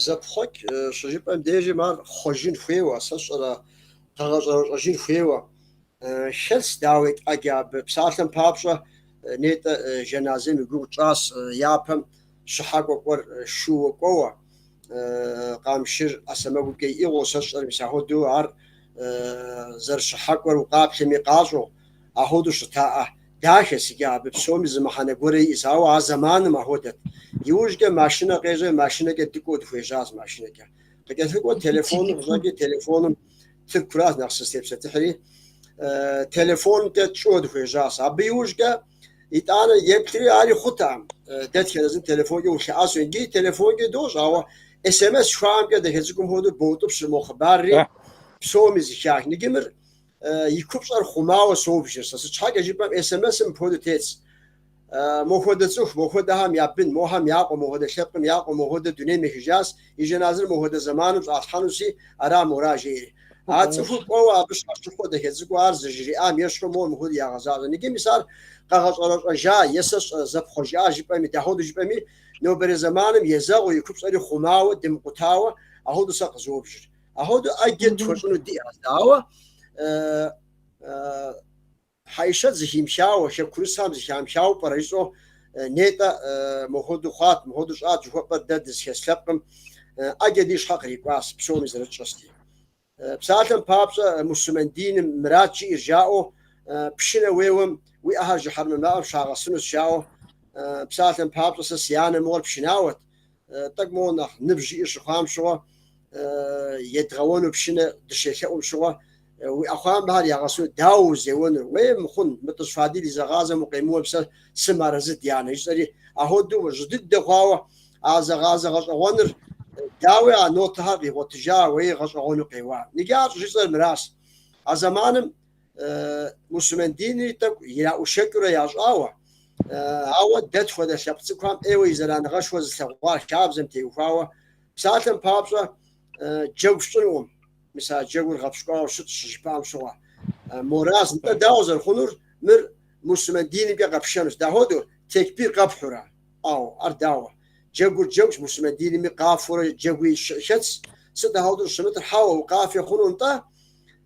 Зэпхъуэкӏ щыжыпӏэм дежым ар хъуэжын хуейуэ, сэ сщӏэрэ, къэгъэщӏэрэщӏэжын хуейуэ. Хэлъс, дауи, тӏэкӏу абы. Псалъэм папщӏэ, нетӏэ, жэназэм и гугъу тщӏащ, япэм щыхьэкӏуэ кӏуэр шууэ кӏуэуэ, къамшыр ӏэ сэмэгукӏэ иӏыгъыу сэ сщӏэрэ, мис ахуэду ар зэрыщыхьэкӏуэр укъаплъэми къащӏэу, ахуэду щытаӏэ. Дахэщ иджы абы псоми зы мыхьэнэ гуэрэ иӏыс, ауэ а зэманым ахуэдэт. Иужькӏэ машинэ къежьэ, машинэкӏэ дыкӏуэу дыхуежьащ, машинэкӏэ. Къыкӏэлъыкӏуэу телефоныр къыщӏэкӏи, телефоным Тыркуращ нэхъ сызытепсэлъыхьри, телефонкӏэ тщӏыуэ дыхуежьащ. Абы иужькӏэ Итӏанэ деплъри ари хъутэкъым. Дэтхэнэ зым телефонкӏэ улъэӏэсу иджыри телефонкӏи дощӏ, ауэ СМС жыхуаӏэмкӏэ дэхэ цӏыкӏум хуэдэу боутӏыпщыр мо хъыбарри псоми зэхах. Ныджы мыр и купщӏэр хъумауэ собжыр сэ. Сыт щхьэкӏэ жыпӏэм СМС-м мыпхуэдэу тетщ. Мо хуэдэ цӏыху, мо хуэдэхэм я бын, мохэм я къуэ, мопхуэдэ лъэпкъым я къуэ, мопхуэдэ дунейм ехыжащ. и жэназэр мы хуэдэ зэманым щӏалъхьэнуси, ара мора, жери. А цӏыхур кӏуэуэ абы щащыхуэ дэхедзыкӏуэ ар зыжриӏам ещхьу моуэ мыхуэду ягъэзащӏэ. Ныджы мис ар къэгъэщӏэрэщӏэжа е сэ сщӏэрэ зэпхъуэжа жыпӏэми, дахуэду жыпӏэми, нобэрей зэманым езэгъыу и купщӏэри хъумауэ, дымыкъутауэ, ахуэду сэ къызобжыр. Ахуэду ӏэджэ тхуэщӏыну диӏэщ, дауэ, Хьэишэт зыхимыхауэ, хэкурысхэм зыхамыхауэ пӏэрэ жысӏэу, Нетӏэ, мо хуэдэу хъуат, мыхуэдэу щӏат жыхуэпӏэр дэ дызыхес лъэпкъым, ӏэджэ ди щхьэ кърикӏуащ, псоми зэрытщӏэсти. Псалъэм папщӏэ, муслъымэн диным мыращ жиӏэр жаӏэу, пшынэ уеуэм, уи ӏэхэр жыхьэрмэ мафӏэм щагъэсынущ жаӏэу, псалъэм папщӏэ, сэ си анэ мыгъуэр пшынауэт, Тӏэкӏу моуэ нэхъ ныбжь иӏэу щыхъуам щыгъуэ, едгъэуэну пшынэ дыщелъэӏум щыгъуэ, уи ӏэхъуамбэхэр ягъэсу дауэ узеуэнур? Уей, мыхъун, мы Тӏыщ Фадил и зэгъазэм укъемыуэ псэ сымыарэзы, дянэ, жысӏэри, ахуэдэу жьы дыдэ хъуауэ а зэгъазэ гъэщӏэгъуэныр, дауи а нотэхэр къигъуэтыжа, уей, гъэщӏэгъуэну къеуа. Иджы ар щӏыжысӏэр мыращ. А зэманым. муслъымэн динри тӏэкӏу ираӏушэкӏыурэ ящӏауэ, ауэ дэ тхуэдэ лъэпкъ цӏыкӏухэм ӏейуэ и зэраныгъэшхуэ зылъэгъуа хабзэм теухуауэ, псалъэм папщӏэ джэгу сщӏынукъым, мис а джэгур гъэпщкӏуауэ щытщ щыжыпӏам щыгъуэ. Мораз, нтӏэ дауэ зэрыхъунур, мыр муслъымэн динымкӏэ къэпшэнущ, дахуэдэу текбир къэпхьурэ? Ауэ ар дауэ, джэгур джэгущ, муслъымэн динми къафэурэ джэгуи хэтщ, сыт ахуэдэу щӏыщымытыр, хьэуэ, укъафэ хъуну нтӏэ?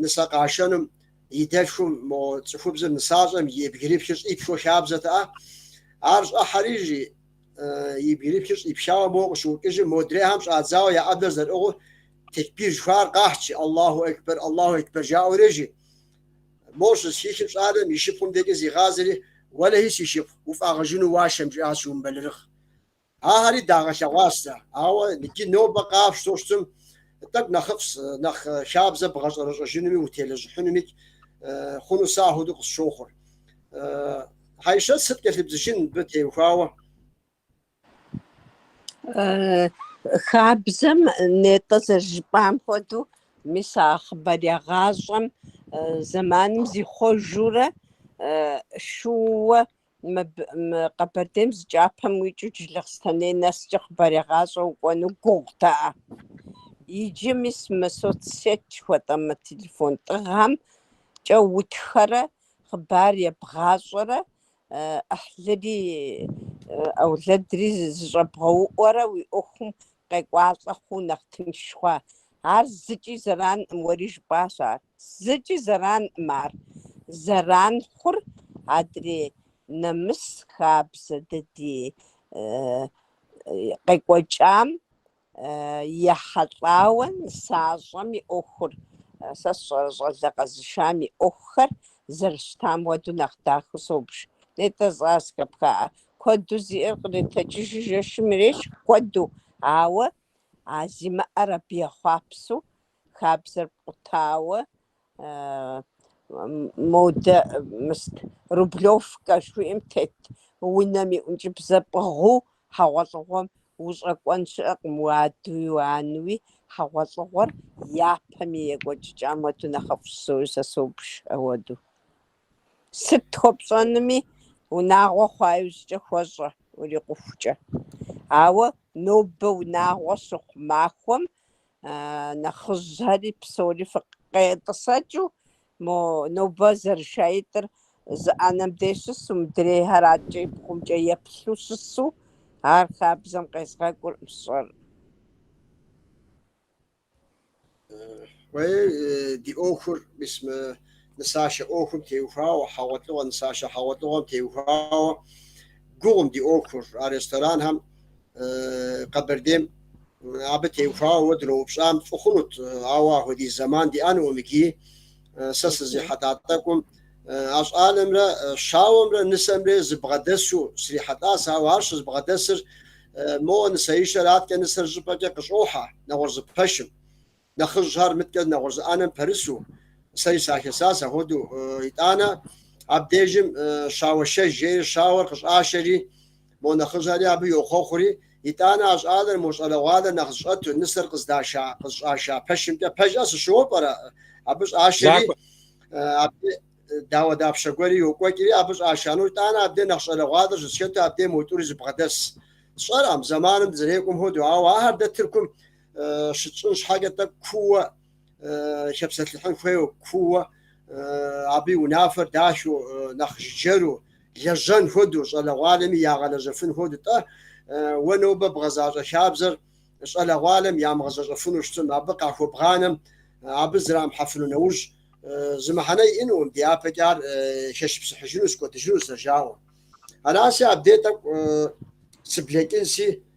нысэ къашэнум и дэлъхум мо цӏыхубзыр нысащӏэм и бгырипхыр щӏипхыу хабзэтэӏэ. Ар щӏыхьэри жи и бгырипхыр щӏипхауэ моуэ къыщыӏукӏыжым, модрейхэм щӏадзауэ я ӏэблэр зэрыӏыгъыу текбир жыхуаӏэр къахь жи, Аллаху акбар, Аллаху акбар жаӏэурэ жи. Мо щызэхихым щӏалэм и шыпхъум декӏэ зигъазэри, Уэлэхьи си шыпхъу, уфӏагъэжыну уашэм, жиӏащ, умыбэлэрыгъ. Ахэри дагъэлъэгъуащ, ауэ иджы нобэ къафщ тощтым, тӏэкӏу нэхъыфӏщ, нэхъ хабзэ бгъэщӏэрэщӏэжынуми утелэжьыхьынуми хъуну сэ ахуэдэу къысщохъур. Хьэишэт сыт кӏэлъыбдзыжын мыбы теухуауэ? Хабзэм нетӏэ зэрыжыпӏам хуэдэу, мис а хъыбарегъащӏэм зэманым зихъуэжурэ шууэ Мыбы, мы Къэбэрдейм зы кӏапэм уикӏыу Джылахъстэней нэскӏэ хъыбарегъащӏэ укӏуэну гугъутэӏэ? Иджы мис мы соцсеть жыхуэтӏэ мы телефон тӏыгъымкӏэ утхэрэ хъыбар ебгъащӏэрэ ӏыхьлыри ӏэулэдри зыщӏэбгъэуӏуэрэ уи ӏуэхум къекӏуалӏэ хъуу нэхъ тынш хъуа? Ар зыкӏи зэранкъым, уэри жыпӏащ ар. Зыкӏи зэранкъым ар. Зэран хъур адрей нэмыс хабзэ дэ ди къекӏуэкӏам ехьэлӏауэ нысащӏэм и ӏуэхур, сэ сщӏэрэ щӏалэ къэзышам и ӏуэхухэр зэрыщытам хуэдэу нэхъ дахэу собж. Нетӏэ жысӏа зэхэпхаӏэ. Куэду зиӏэр къритэкӏыжу жэщым ирещӏ, куэду, ауэ а зимыӏэр абы ехъуапсэу Хабзэр пкъутауэ модэ мыст Рублевкэ жыхуиӏэм тет унэм и ӏункӏыбзэ пӏыгъыу хьэгъуэлӏыгъуэм ущӏэкӏуэн щыӏэкъым, уадэуи уанэуи хьэгъуэлӏыгъуэр япэм и екӏуэкӏыкӏам хуэдэу нэхъыфӏщ, сэ собж ахуэдэу. Сыт хуэпщӏэнуми унагъуэ хъуа иужькӏэ хуэщӏэ урикъухукӏэ. Ауэ нобэ унагъуэ щыхъу махуэм нэхъыжьхэри псори фыкъетӏысэкӏыу, мо нобэ зэрышаитӏыр зы ӏэнэм деж щысу, мыдрейхэр адкӏэ и бгъумкӏэ еплъу щысу, ар хабзэм къезгъэкӏуркъым, фщӏэрэ. Уей, ди ӏуэхур, мис мы нысашэ ӏуэхум теухуауэ, хьэгъуэлӏыгъуэ, нысашэ хьэгъуэлӏыгъуэм теухуауэ гугъум ди ӏуэхур, а ресторанхэм Къэбэрдейм абы теухуауэ уэ дыноупщӏам фӏы хъунут, ауэ ахуэдиз зэман диӏэнукъым икӏи. Сэ сызрихьэлӏа тӏэкӏум а щӏалэмрэ щауэмрэ нысэмрэ зэбгъэдэсу срихьэлӏащ, ауэ ар щызэбгъэдэсыр моуэ нысэишэр, адкӏэ нысэр щӏыпӏэкӏэ къыщӏохьэ нэгъуэщӏ зы пэшым. Нэхъыжьхэр мыдкӏэ нэгъуэщӏ зы ӏэнэм пэрысу, сэри сахесащ ахуэдэу, итӏанэ, абдежым щауэшэж жари щауэр къыщӏашэри, мо нэхъыжьхэри абы йохъуэхъури, итӏанэ а щӏалэр, мо щӏалэгъуалэр нэхъ зыщӏэту, нысэр къыздаша, къызщӏаша пэшымкӏэ пэжкъэ, сыщыуэу пӏэрэ? Абы щӏашэри, абде дауэдапщэ гуэри йокӏуэкӏри, абы щӏаша нэужь, итӏанэ абде нэхъ щӏалэгъуалэр щыщӏэту абдейм мо тӏури зэбгъэдэсщ. Сщӏэркъым, зэманым дызэрекӏуэм хуэдэу, ауэ ахэр дэ Тыркум щытщӏын щхьэкӏэ тӏэкӏу кууэ хэпсэлъыхьын хуейуэ, кууэ абы и унафэр дахэу, нэхъ жыджэру, лэжьэн хуэдэу, щӏалэгъуалэми ягъэлэжьэфын хуэдэу. Тӏэ, уэ нобэ бгъэзащӏэ хабзэр щӏалэгъуалэм ямыгъэзэщӏэфыну щытым, абы къахуэбгъанэм, абы зэрамыхьэфыну нэужь, зы мыхьэнэ иӏэнукъым, дяпэкӏэ ар хэшыпсыхьыжынус, кӏуэдыжынус си жагъуэу. Араси, абдей тӏэкӏу сыблэкӏынси.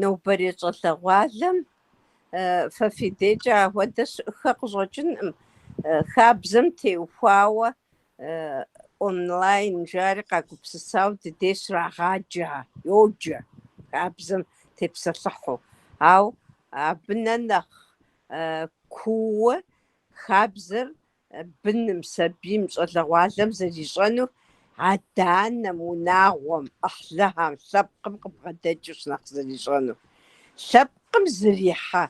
Нобэрей щӏалэгъуалэм фэ фи дежкӏэ ахуэдэ щыӏэххэ къыщӏэкӏынкъым, хабзэм теухуауэ онлайн жари къагупсысауэ ди деж щрагъаджэ, йоджэ хабзэм тепсэлъыхьу. Ауэ абы нэ нэхъ кууэ хабзэр быным, сабийм, щӏалэгъуалэм зэрищӏэнур адэ-анэм, унагъуэм, ӏыхьлыхэм, лъэпкъым къыбгъэдэкӏыущ нэхъ зэрищӏэнур. Лъэпкъым зэрихьэ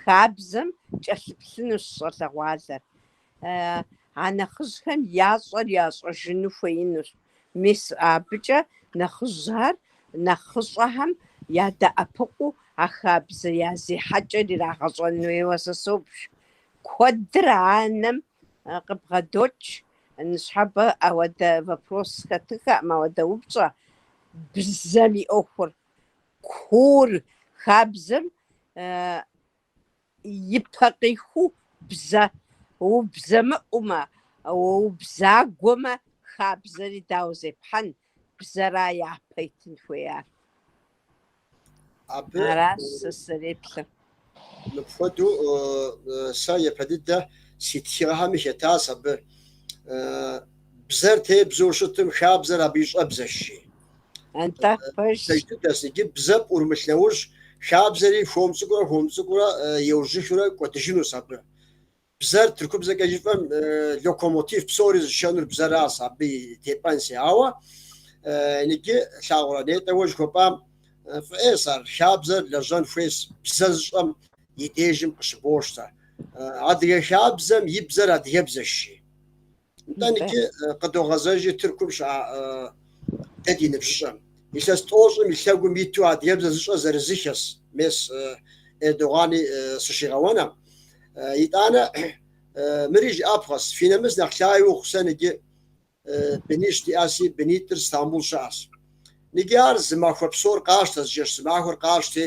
хабзэм кӏэлъыплъынущ щӏалэгъуалэр. А нэхъыжьхэм ящӏэр ящӏэжыну хуеинущ, мис абыкӏэ нэхъыжьхэр нэхъыщӏэхэм ядэӏэпыкъуу а хабзэ я зехьэкӏэр ирагъэщӏэн хуейуэ сэ собж, Куэдыр анэм къыбгъэдокӏ, ныщхьэбэ ауэдэ вопрос хэтыхэкъым, ауэдэ упщӏэ. Бзэм и ӏуэхур, куур, хабзэм и пэ къиху бзэ. Убзэмыӏумэ, убзагуэмэ, хабзэри дауэ зепхьэн? Бзэра япэ итын хуеяр. Абы Аращ сэ сызэреплъыр. мыпхуэдэу э, э, сэ япэ дыдэ си тхыгъэхэми хэтащ абы. Э, Бзэр тебзэу щытым, хабзэр абы и щӏэбзэщ, жи. Антӏэ пэж дыдэщ, иджы бзэ пӏурымылъ нэужь, хабзэри хуэм цӏыкӏурэ хуэм цӏыкӏурэ э, еужьыхыурэ кӏуэдыжынущ абы. Бзэр тыркубзэкӏэ жыфӏэм локомотив псори зышэнур бзэращ, абы и тепӏэнси. Ауэ ныджы лъагъурэ нетӏэ уэ жыхуэпӏам фӏы ӏейс ар хабзэр лэжьэн хуейс бзэ зыщӏэм и дежым къыщыбощтэ. Адыгэ хабзэм и бзэр адыгэбзэщ, жи. Нтӏэ, Нтӏэ. Нтӏэ, къыдогъэзэжьи Тыркум щыӏа дэ ди ныбжьыщӏэм. Илъэс тӏощӏым и лъэгум иту адыгэбзэ зыщӏэ зырызыххэс мес Эрдогъани сыщигъэуэнкъым. Итӏанэ, мыри жыӏэпхъэс, фи нэмыс нэхъ лъагэ ухъу, сэ ныджы бынищ диӏэси, бынитӏыр Стамбул щыӏэс. Ныджи ар зы махуэ псор къащтэ, зы жэщ зы махуэр къащтэ,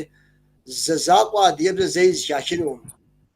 зэ закъуэ адыгэбзэ зэи зыхахынукъым.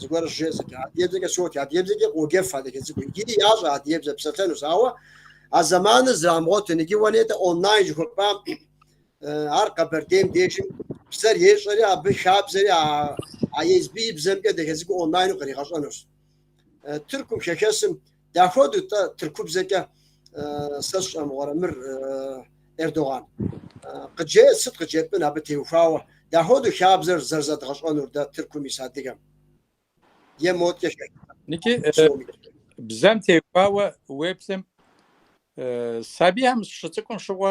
Зыгуэр щыжесӏэкӏэ, адыгэбзэкӏэ сотх, адыгэбзэкӏи къоджэфхэ дахэ цӏыкӏуу. Иджыри ящӏэ адыгэбзэ псэлъэнур, ауэ а зэманыр зэрамыгъуэтын. Иджы уэ нетӏэ онлайн жыхуэпӏам, ар Къэбэрдейм дежым бзэр ещӏэри, абы хабзэри а езым и бзэмкӏэ дахэ цӏыкӏуу онлайну къригъэщӏэнущ. Тыркум, хэхэсым, Дахуэду тӏэ тыркубзэкӏэ сэ сщӏэмыгъуэрэ мыр Эрдоган. Къыджеӏэ сыт къыджепӏэн абы теухуауэ дахуэду хабзэр зэрызэдгъэщӏэнур дэ Тыркум ис адыгэм. Е моткӏэ хэхыпӏэ. Ники, бзэм теухуауэ уеплъым сабийхэм щыцӏыкӏум щыгъуэ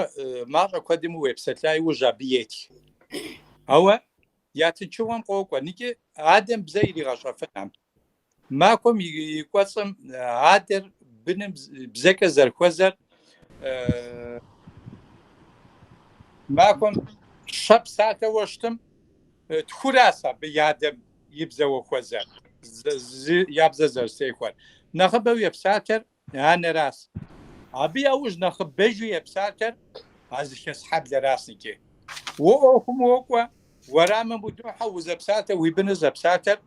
мащӏэ куэдми уепсэлъа иужь абы етх. Ауэ я тынчыгъуэм къокӏуэ, ники адэм бзэ иригъэщӏэфынкъым. Махуэм и кӏуэцӏым адэр быным бзэкӏэ зэрыхуэзэр махуэм щэ псалъэу щытым тхуращ абы адэм и бзэуэ хуэзэр, я бзэ зэрызэтехуэр. Нэхъыбэу епсалъэр Анэращ. Абы яужь нэхъыбэжу епсалъэр а зыхэс хьэблэращ икӏи. Уэ ӏуэхум уокӏуэ, уэрамым удохьэ, узэпсалъэр, уи быныр зэпсалъэр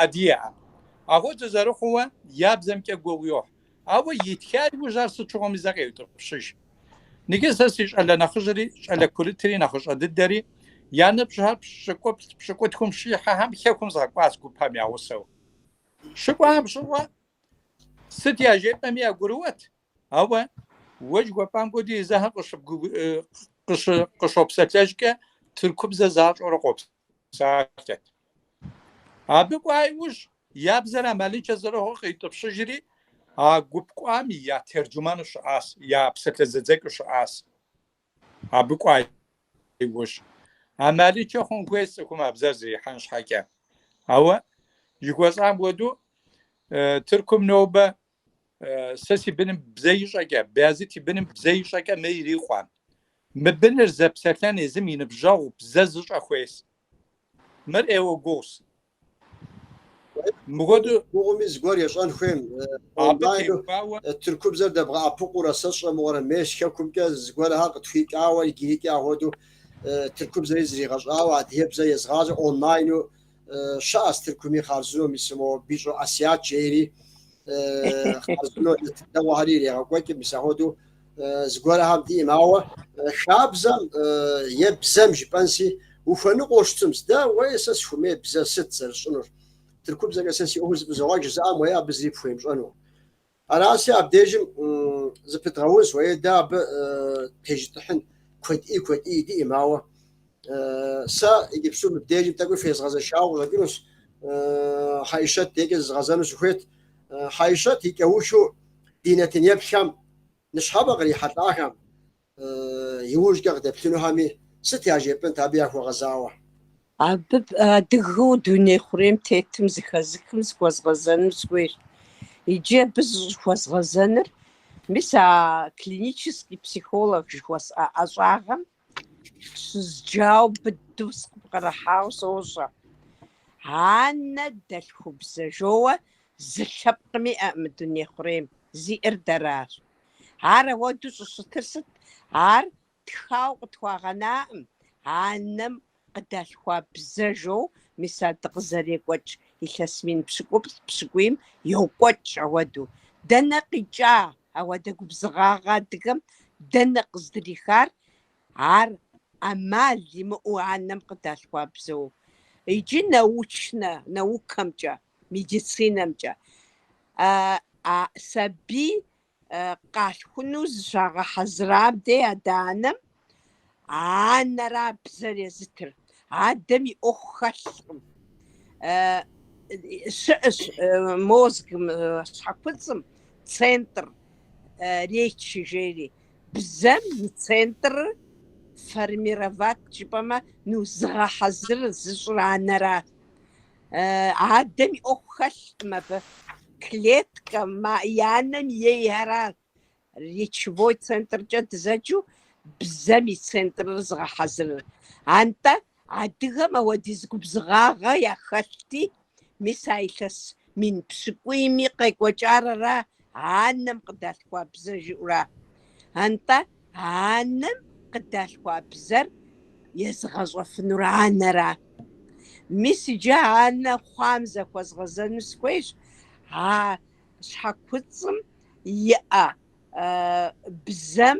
адыгэӏэм. Ахуэдэ зэрыхъууэ я бзэмкӏэ гугъу йохь. Ауэ итха иужь ар сыт щыгъуэми зэ къеутӏыпщыж. Ныкӏи сэ си щӏалэ нэхъыжьри, щӏалэ курытри, нэхъыщӏэ дыдэри, я ныбжьхэр пщыкӏуплӏ-пщыкӏутхум щихьэхэм хэкум згъэкӏуащ гупэм я гъусэу. Щыкӏуахэм щыгъуэ Сыт яжепӏэми ягурыӏуэт, ауэ уэ жыхуэпӏам хуэдэу езыхэр къыщопсэлъэжкӏэ тыркубзэ защӏэурэ къопсалъэт. Абы кӏуа иужь я бзэр амалыншэ зэрыхъур къиутӏыпщыжри, а гуп кӏуам я терджуману щыӏащ, я псалъэзэдзэкӏыу щыӏащ. Абы кӏуа иужь, амалыншэ хъун хуейщ цӏыхум а бзэр зрихьэн щхьэкӏэ. Ауэ, жыхуэсӏам хуэдэу, Тыркум нобэ сэ си быным бзэ ищӏэкӏэ, Бязыт и быным бзэ ищӏэкӏэ мыр ирикъуӏым. Мы быныр зэпсэлъэн езым и ныбжьэгъу бзэ зыщӏэ хуейщ. Мыр ӏейуэ гугъущ. Мыхуэдэу гугъуми зыгуэр ещӏэн хуейм. Онлайну тыркубзэр дэбгъэӏэпыкъуурэ сэ сщӏэмыгъуэрэ мес хэкумкӏэ зыгуэрхэр къытхуикӏауэ иджырикӏи ахуэду тыркубзэри зригъэщӏауэ адыгэбзэ езыгъащӏэ онлайну щыӏэс тыркуми хъарзынэу мис мо Бищӏо Асият жейри хъарзынэу тыркуэгъуэхэри ирегъэкӏуэкӏ мис ахуэду зыгуэрхэм диӏэм, ауэ хабзэм е бзэм жыпӏэнси ухуэныкъуэу щытым, сдэ уей сэ сыхуэмей бзэ сыт зэрысщӏынур? Тыркубзэкӏэ сэ си ӏуэхур зэфӏызогъэкӏ жызыӏэм уей абы зыри пхуемыщӏэну. Араси абдежым зыпыдгъэунщ, уей дэ абы тежытӏыхьын куэд ӏей куэд ӏей диӏэм, ауэ сэ иджыпсту мыбдежым тӏэкӏуи фезгъэзэшауэ къыщӏэкӏынущ, Хьэишэт декӏэ зызгъэзэну сыхуейт. Хьэишэт и кӏэухыу ди нэтын еплъхэм Ныщхьэбэ кърихьэлӏахэм, иужькӏэ къыдеплъынухэми сыт яжепӏэнт абы яхуэгъэзауэ? Абы адыгэу дуней хъурейм тетым зыхэзыхым зыхуэзгъэзэну сыхуейщ. Иджы абы зыщӏыхуэзгъэзэныр, мис а клинический психолог жыхуэсӏэ ӏэщӏагъэм Щызджауэ быдэу сыкъыпкърыхьау сощӏэ. Анэдэлъхубзэ жоуэ зы лъэпкъыми иӏэӏым мы дуней хъурейм, зиӏэр дэращ. Ар ахуэдэу щӏыщытыр сыт? Ар тхау къытхуагъэнаӏым, анэм Къыдалъхуа бзэ жаӏэу мис ар дыкъызэрекӏуэкӏ илъэс мин пщыкӏуплӏ пщыкӏуийм йокӏуэкӏ ауэдэу. Дэнэ къикӏа ауэдэ губзыгъагъэ адыгэм, дэнэ къыздрихар ар ӏэмал имыӏэу анэм къыдалъхуа бзэу? Иджы научнэ наукэмкӏэ, медицинэмкӏэ а сабий къалъхуну зыщагъэхьэзырам дей адэ-анэм анэра бзэр езытыр. Адэм и ӏуэху хэлъкъым. Щыӏэщ мозгым щхьэкуцӏым центр речи жери. Бзэм и центр формировать жыпӏэмэ, ну, зыгъэхьэзыр зыщӏыр анэра. Адэм и ӏуэху хэлъкъым абы. Клеткэ мы анэм ейхэра речевой центркӏэ дызэджу бзэм и центрыр зыгъэхьэзырыр. Антӏэ адыгэм ауэдиз губзыгъагъэ яхэлъти, мис а илъэс мин пщыкӏуийми къекӏуэкӏар ара анэм къыдалъхуа бзэ жыӏура? Антӏэ Анэм къыдалъхуа бзэр езыгъэщӏэфынур анэра? Мис иджы анэ хъуам зэхуэзгъэзэну сыхуейщ а щхьэкуцӏым иӏэ бзэм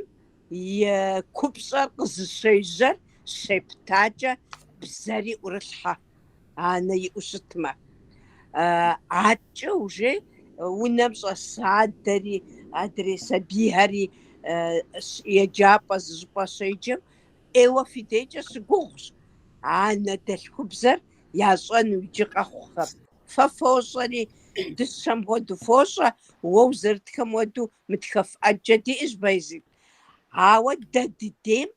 и купщӏэр къызыщежьэр щептакӏэ бзэри ӏурылъхьэ. анэ иӏэу щытмэ. Адэкӏэ уже унэм щӏэс адэри, адрей сабийхэри еджапӏэ зыщӏыпӏэ щеджэм, ӏейуэ фи дейкӏэ щыгугъущ анэдэлъхубзэр ящӏэну иджы къэхъухэм. Фэ фощӏэри, дыщэм хуэдэу фощӏэ, уэ узэрытхэм хуэдэу мытхэф ӏэджэ диӏэщ, Байзид. Ауэ дэ дыдейм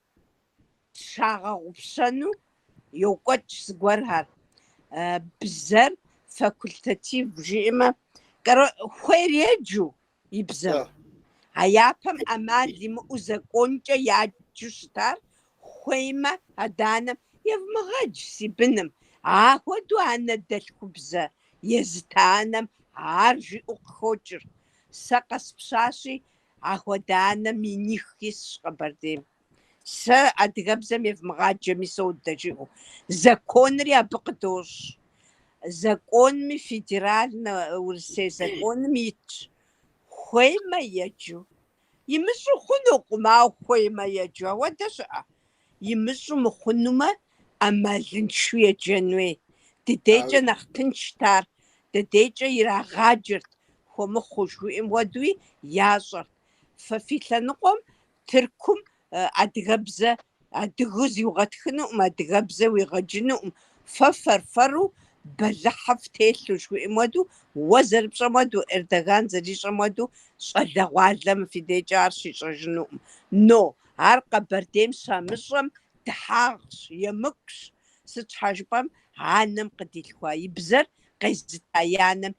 Зыщагъэгъупщэну йокӏуэкӏ зыгуэрхэр. Бзэр факультатив жиӏэмэ, хуейр еджэу и бзэм. А япэм ӏэмал имыӏэу законкӏэ яджэу щытар, хуеймэ, адэ-анэм, Евмыгъэдж си быным, ахуэдэу анэдэлъхубзэ езыта анэм ар жиӏэу къыхокӏыр. Сэ къэспщащи, ахуэдэ анэ миних исщ Къэбэрдейм. Сэ адыгэбзэм евмыгъаджэми содэ жиӏэу. Законри абы къыдощӏ. Законми, федеральнэ Урысей законым итщ. Хуеймэ еджу. Имыщӏу хъунукъым, ауэ хуеймэ еджу. Ауэдэ щыӏэ. Имыщӏу мыхъунумэ, ӏэмалыншэу еджэн хуей. Дыдейкӏэ нэхъ тыншт ар. Дыдейкӏэ ирагъаджэрт, хуэмыхъуу жыхуиӏэм хуэдэуи, ящӏэрт. Фэ фи лъэныкъуэм Тыркум адыгэбзэ адыгэу зыуигъэтхынукъым, адыгэбзэ уигъэджынукъым, фэ фэр-фэру бэлыхьыфӏ телъу, жыхуиӏэм хуэдэу, уэ зэрыпщӏэм хуэдэу, Эрдоган зэрищӏэм хуэдэу щӏалэгъуалэ мы фи дейкӏэ ар щищӏэжынукъым. Но, ар Къэбэрдейм щамыщӏэм дыхьагъщ, емыкӏущ, сыт щхьэ жыпӏэм, анэм къыдилъхуа и бзэр къезыта анэм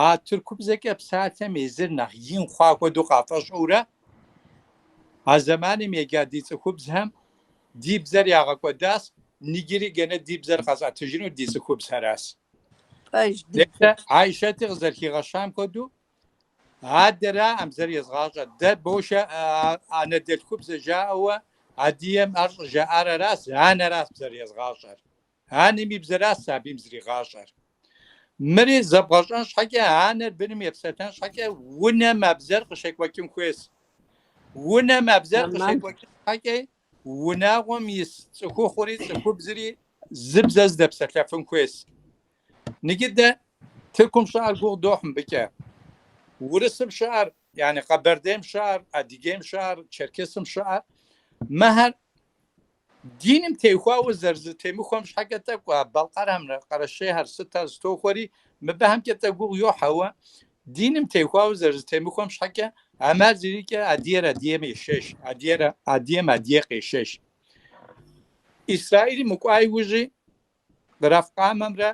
А тыркубзэкӏэ псалъэм езыр нэхъ ин хъуа хуэдэу къафӏэщӏэурэ, а зэманым ега ди цӏыхубзхэм ди бзэр ягъэкӏуэдащ, нигири гэнэ ди бзэр къэзыӏэтыжыну ди цӏыхубзхэращ. Пэж дыдэ. Айшэти къызэрыхигъэщам хуэдэу, адэраӏым бзэр езгъащӏэр. Дэ бошэ анэдэлъхубзэ жаӏэуэ адыгэм ар щӏыжаӏар аращ, анэращ бзэр езгъащӏэр. Анэм и бзэращ сабийм зригъащӏэр. Мыри зэбгъэщӏэн щхьэкӏэ, анэр быным епсэлъэн щхьэкӏэ унэм а бзэр къыщекӏуэкӏын хуейщ. Унэм а бзэр къыщекӏуэкӏын щхьэкӏэ унагъуэм ис цӏыхухъури цӏыхубзри зы бзэ здэпсэлъэфын хуейщ. Нигы дэ Тыркум щыӏэр гугъу дохь мыбыкӏэ. Урысым щыӏэр, яни Къэбэрдейм щыӏэр, Адыгейм щыӏэр, Черкесым щыӏэр, мыхэр Диным техуауэ зэрызэтемыхуэм щхьэкӏэ тӏэкӏу а Балкъэрхэмрэ Къэрэщейхэр сыт ар зытохуэри, мыбыхэмкӏэ тӏэ гугъу йохь, ауэ диным техуауэ зэрызэтемыхуэм щхьэкӏэ ӏэмал зэриӏэкӏэ адыгэр адыгэм ешэщ, адыгэр адыгэм адыгэ къешэщ. Исраилым укӏуа иужьи, Рафкъамэмрэ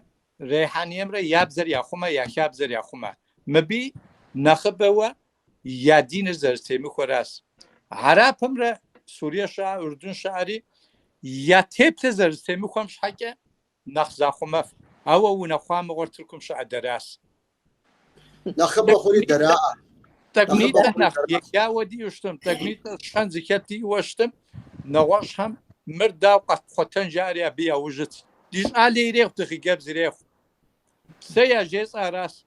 Рейхьаниемрэ я бзэр яхъумэ, я хабзэр яхъумэ. Мыбы нэхъыбэуэ Я диныр зэрызтемыхуэращ. Хьэрыпымрэ Сурие щыӏэ, Урдун щыӏэри я теплъэр зэрызтемыхуэм щхьэкӏэ нэхъ захъумэф, ауэ унэхъуа мыгъуэр Тыркум щыӏэ дэращ. Нэхъыбэ хъури дэраӏэ. Тӏэкӏунитӏэ нэхъ егауэ диӏэу щытым, тӏэкӏунитӏэ щэн зыхэт диӏэуэ щытым, нэгъуэщӏхэм мыр дауэ къэтпхъуэтэн жаӏэри абы яужь итщ. Ди щӏалэ ирехъу, ди хъыджэбз ирехъу. Сэ яжесӏэ аращ.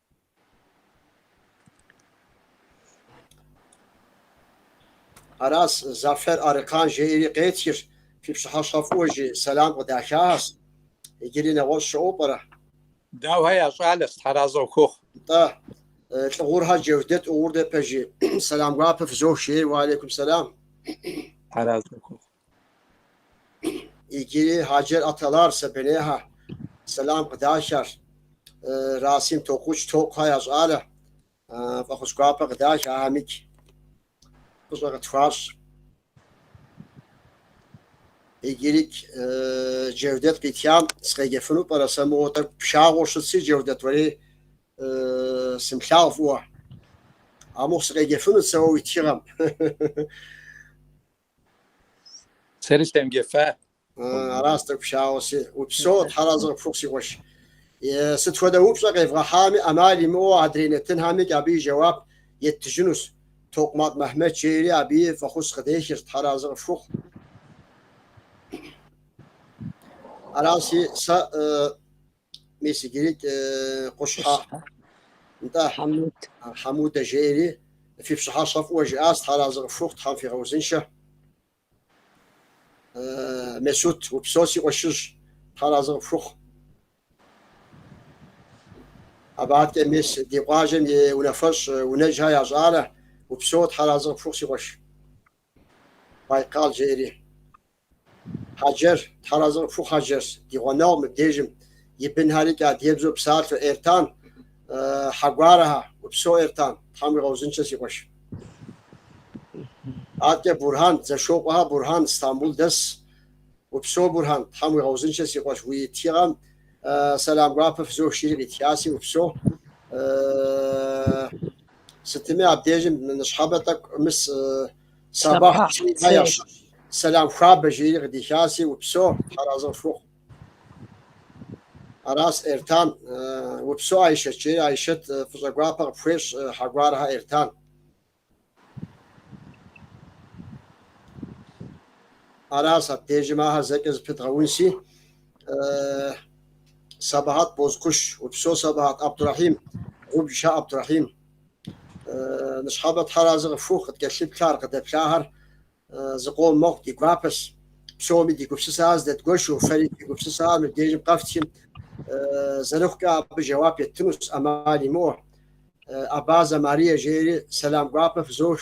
Аращ, Зафер Арыкан жеири къетхырщ, фи пщыхьэщхьэ фӏыуэ жи сэлам къыдахахьэрщ. Иджыри нэгъуэщӏ щыӏэу пӏэрэ? Дауэ, я щӏалэ, стхьэразэ ухуохъу. Нтӏэ, Лӏыгъурхьэр Джэвдэт ӏугъур дэ пэжи, сэлам гуапэ фызох, жеир, уалейкум сэлам. Стхьэразэ ухуохъу. Иджыри Хьэджэр Аталар Сабинехьэ сэлам къыдахыр, Расим Токъуч Токъухэ я щӏалэ фӏэхъус гуапэ къыдах, ахьэмикӏ фӏыщӏэ къытхуащӏ. Иджыри Джэвдэт къитхам сыкъеджэфыну пӏэрэ сэ мыгъуэу тӏэкӏу пшагъуэу щытси, Джэвдэт, уэри сымылъагъу фӏыуэ. Амыхъу сыкъеджэфынут сэ уэ уи тхыгъэм. Сэри семыджэфа. Арас тӏэкӏу щауэ си. Упсэу, Тхьэразы къыпхухъу си къуэш. Сыт хуэдэ упщӏэ къевгъэхьами, ӏэмал имыӏэу адрей нэтынхьэми абы и жэуап еттыжынущ. Токъумакъ Мэхьмэд жери абыи фӏэхъус къыдехыр, Тхьэразы къыфхухъу. Араси, сэ. Мис иджыри Къущхьэ нтӏэ Хьэмуд Хьэмудэ жери фи пщыхьэщхьэ фӏыуэ жиӏас, тхьэразэ къыфхухъу, Тхьэм фигъэузыншэ. Месут, упсэу си къуэшыжь, тхьэразэ къыфхухъу. Абы адэкӏэ мис ди къуажэм и унафэщӏ Унэжьхэ я щӏалэ, упсэу тхьэразэ къыфхухъу си къуэш. Байкал жери. Хьэджэр, тхьэразы къыпхухъу Хьэджэр, ди гъуэнэгъу мыбдежым, и бынхьэрикӏ адыгэбзэу псалъэу Эртан, Хьэгуарэхьэ, упсо Эртан, тхьэм уигъэузынчэ си къуэш. Аткӏэ Бурхьан, Дзэшокъуэхьэ Бурхьан, Стамбул дэс, упсо Бурхьан, тхьэм уигъэузынчэ си къуэш, уи тхыгъэм сэлам гуапэ фызох жери къитхаси, упсо. Сытми абдежым ныщхьэбэ тӏэкӏу мыс сабахь ящ. Сэлам хуабэ жери къыдихаси упсо тхьэразы къыфхухъу. Арас Эртан, упсо Айшэт жери Айшэт фӏыщӏэ гуапэ къыпхуещӏ Хьэгуарэхьэ Эртан. Арас абдежым ахэр зэкӏэ зыпыдгъэунси. Э, Сабахьэт Бозкуш, упсо Сабахьэт. Абдурахьим, Губжа Абдурахьим. Э, ныщхьэбэ Тхьэразы къыфхухъу, къыткӏэлъыплъар, къыдэплъахэр э, зыкъом мэхъу ди гуапэс. Псоми ди гупсысэхэр зэдэдгуэшу, фэри ди гупсысэхэр мы дежым къэфтхым, э, зэрыхъукӏэ абы жэуап еттынущ ӏэмал имыӏэу. Э, Абазэ Марие жери сэлам гуапэ фызох.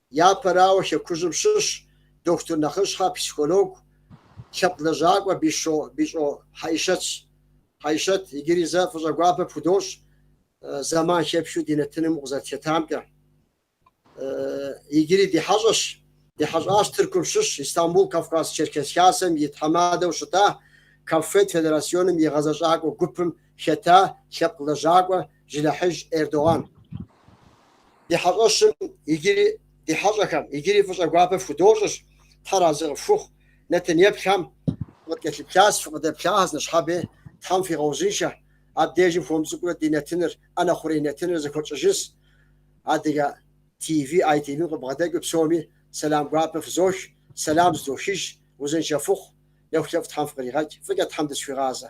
Япэрауэ, Хэкужьым щыщ дохутыр нэхъыщхьэ, психологу, лъэпкъ лэжьакӏуэ Бищ- Бищӏо Хьэӏишэтщ. Хьэӏишэт, иджыри зэ фӏыщӏэ гуапэ пхудощӏ, зэман хэпхыу ди нэтыным укъызэрытхэтамкӏэ. Иджыри ди хьэщӏэщ, ди хьэщӏащ Тыркум щыщ Истамбул Кавказ-Черкес Хасэм и тхьэмадэу щыта Каффед федерасионым и гъэзэщӏакӏуэ гупым хэта лъэпкъ лэжьакӏуэ Жылэхьыж Эрдоган. Ди хьэщӏэщым иджыри ди хьэщӏэхэм иджыри фӏыщӏэ гуапэ фхудощӏыщ, Тхьэ разы къыфхухъу, нэтын еплъхэм фыкъыткӏэлъыплъащ, фыкъыдэплъахэщ ныщхьэбэ, Тхьэм фигъэузыншэ, абдежым хуэм цӏыкӏурэ ди нэтыныр, ӏэнэ хъурей нэтыныр зэхуэтщӏыжыс, Адыгэ ТВ, ITV-м къыбгъэдэкӏыу псоми сэлам гуапэ фызох, сэлам зыдохыж, узыншэ фыхъу, нэхулъэфӏ Тхьэм фыкъригъэкӏ, фӏыкӏэ Тхьэм дызэхуигъазэ.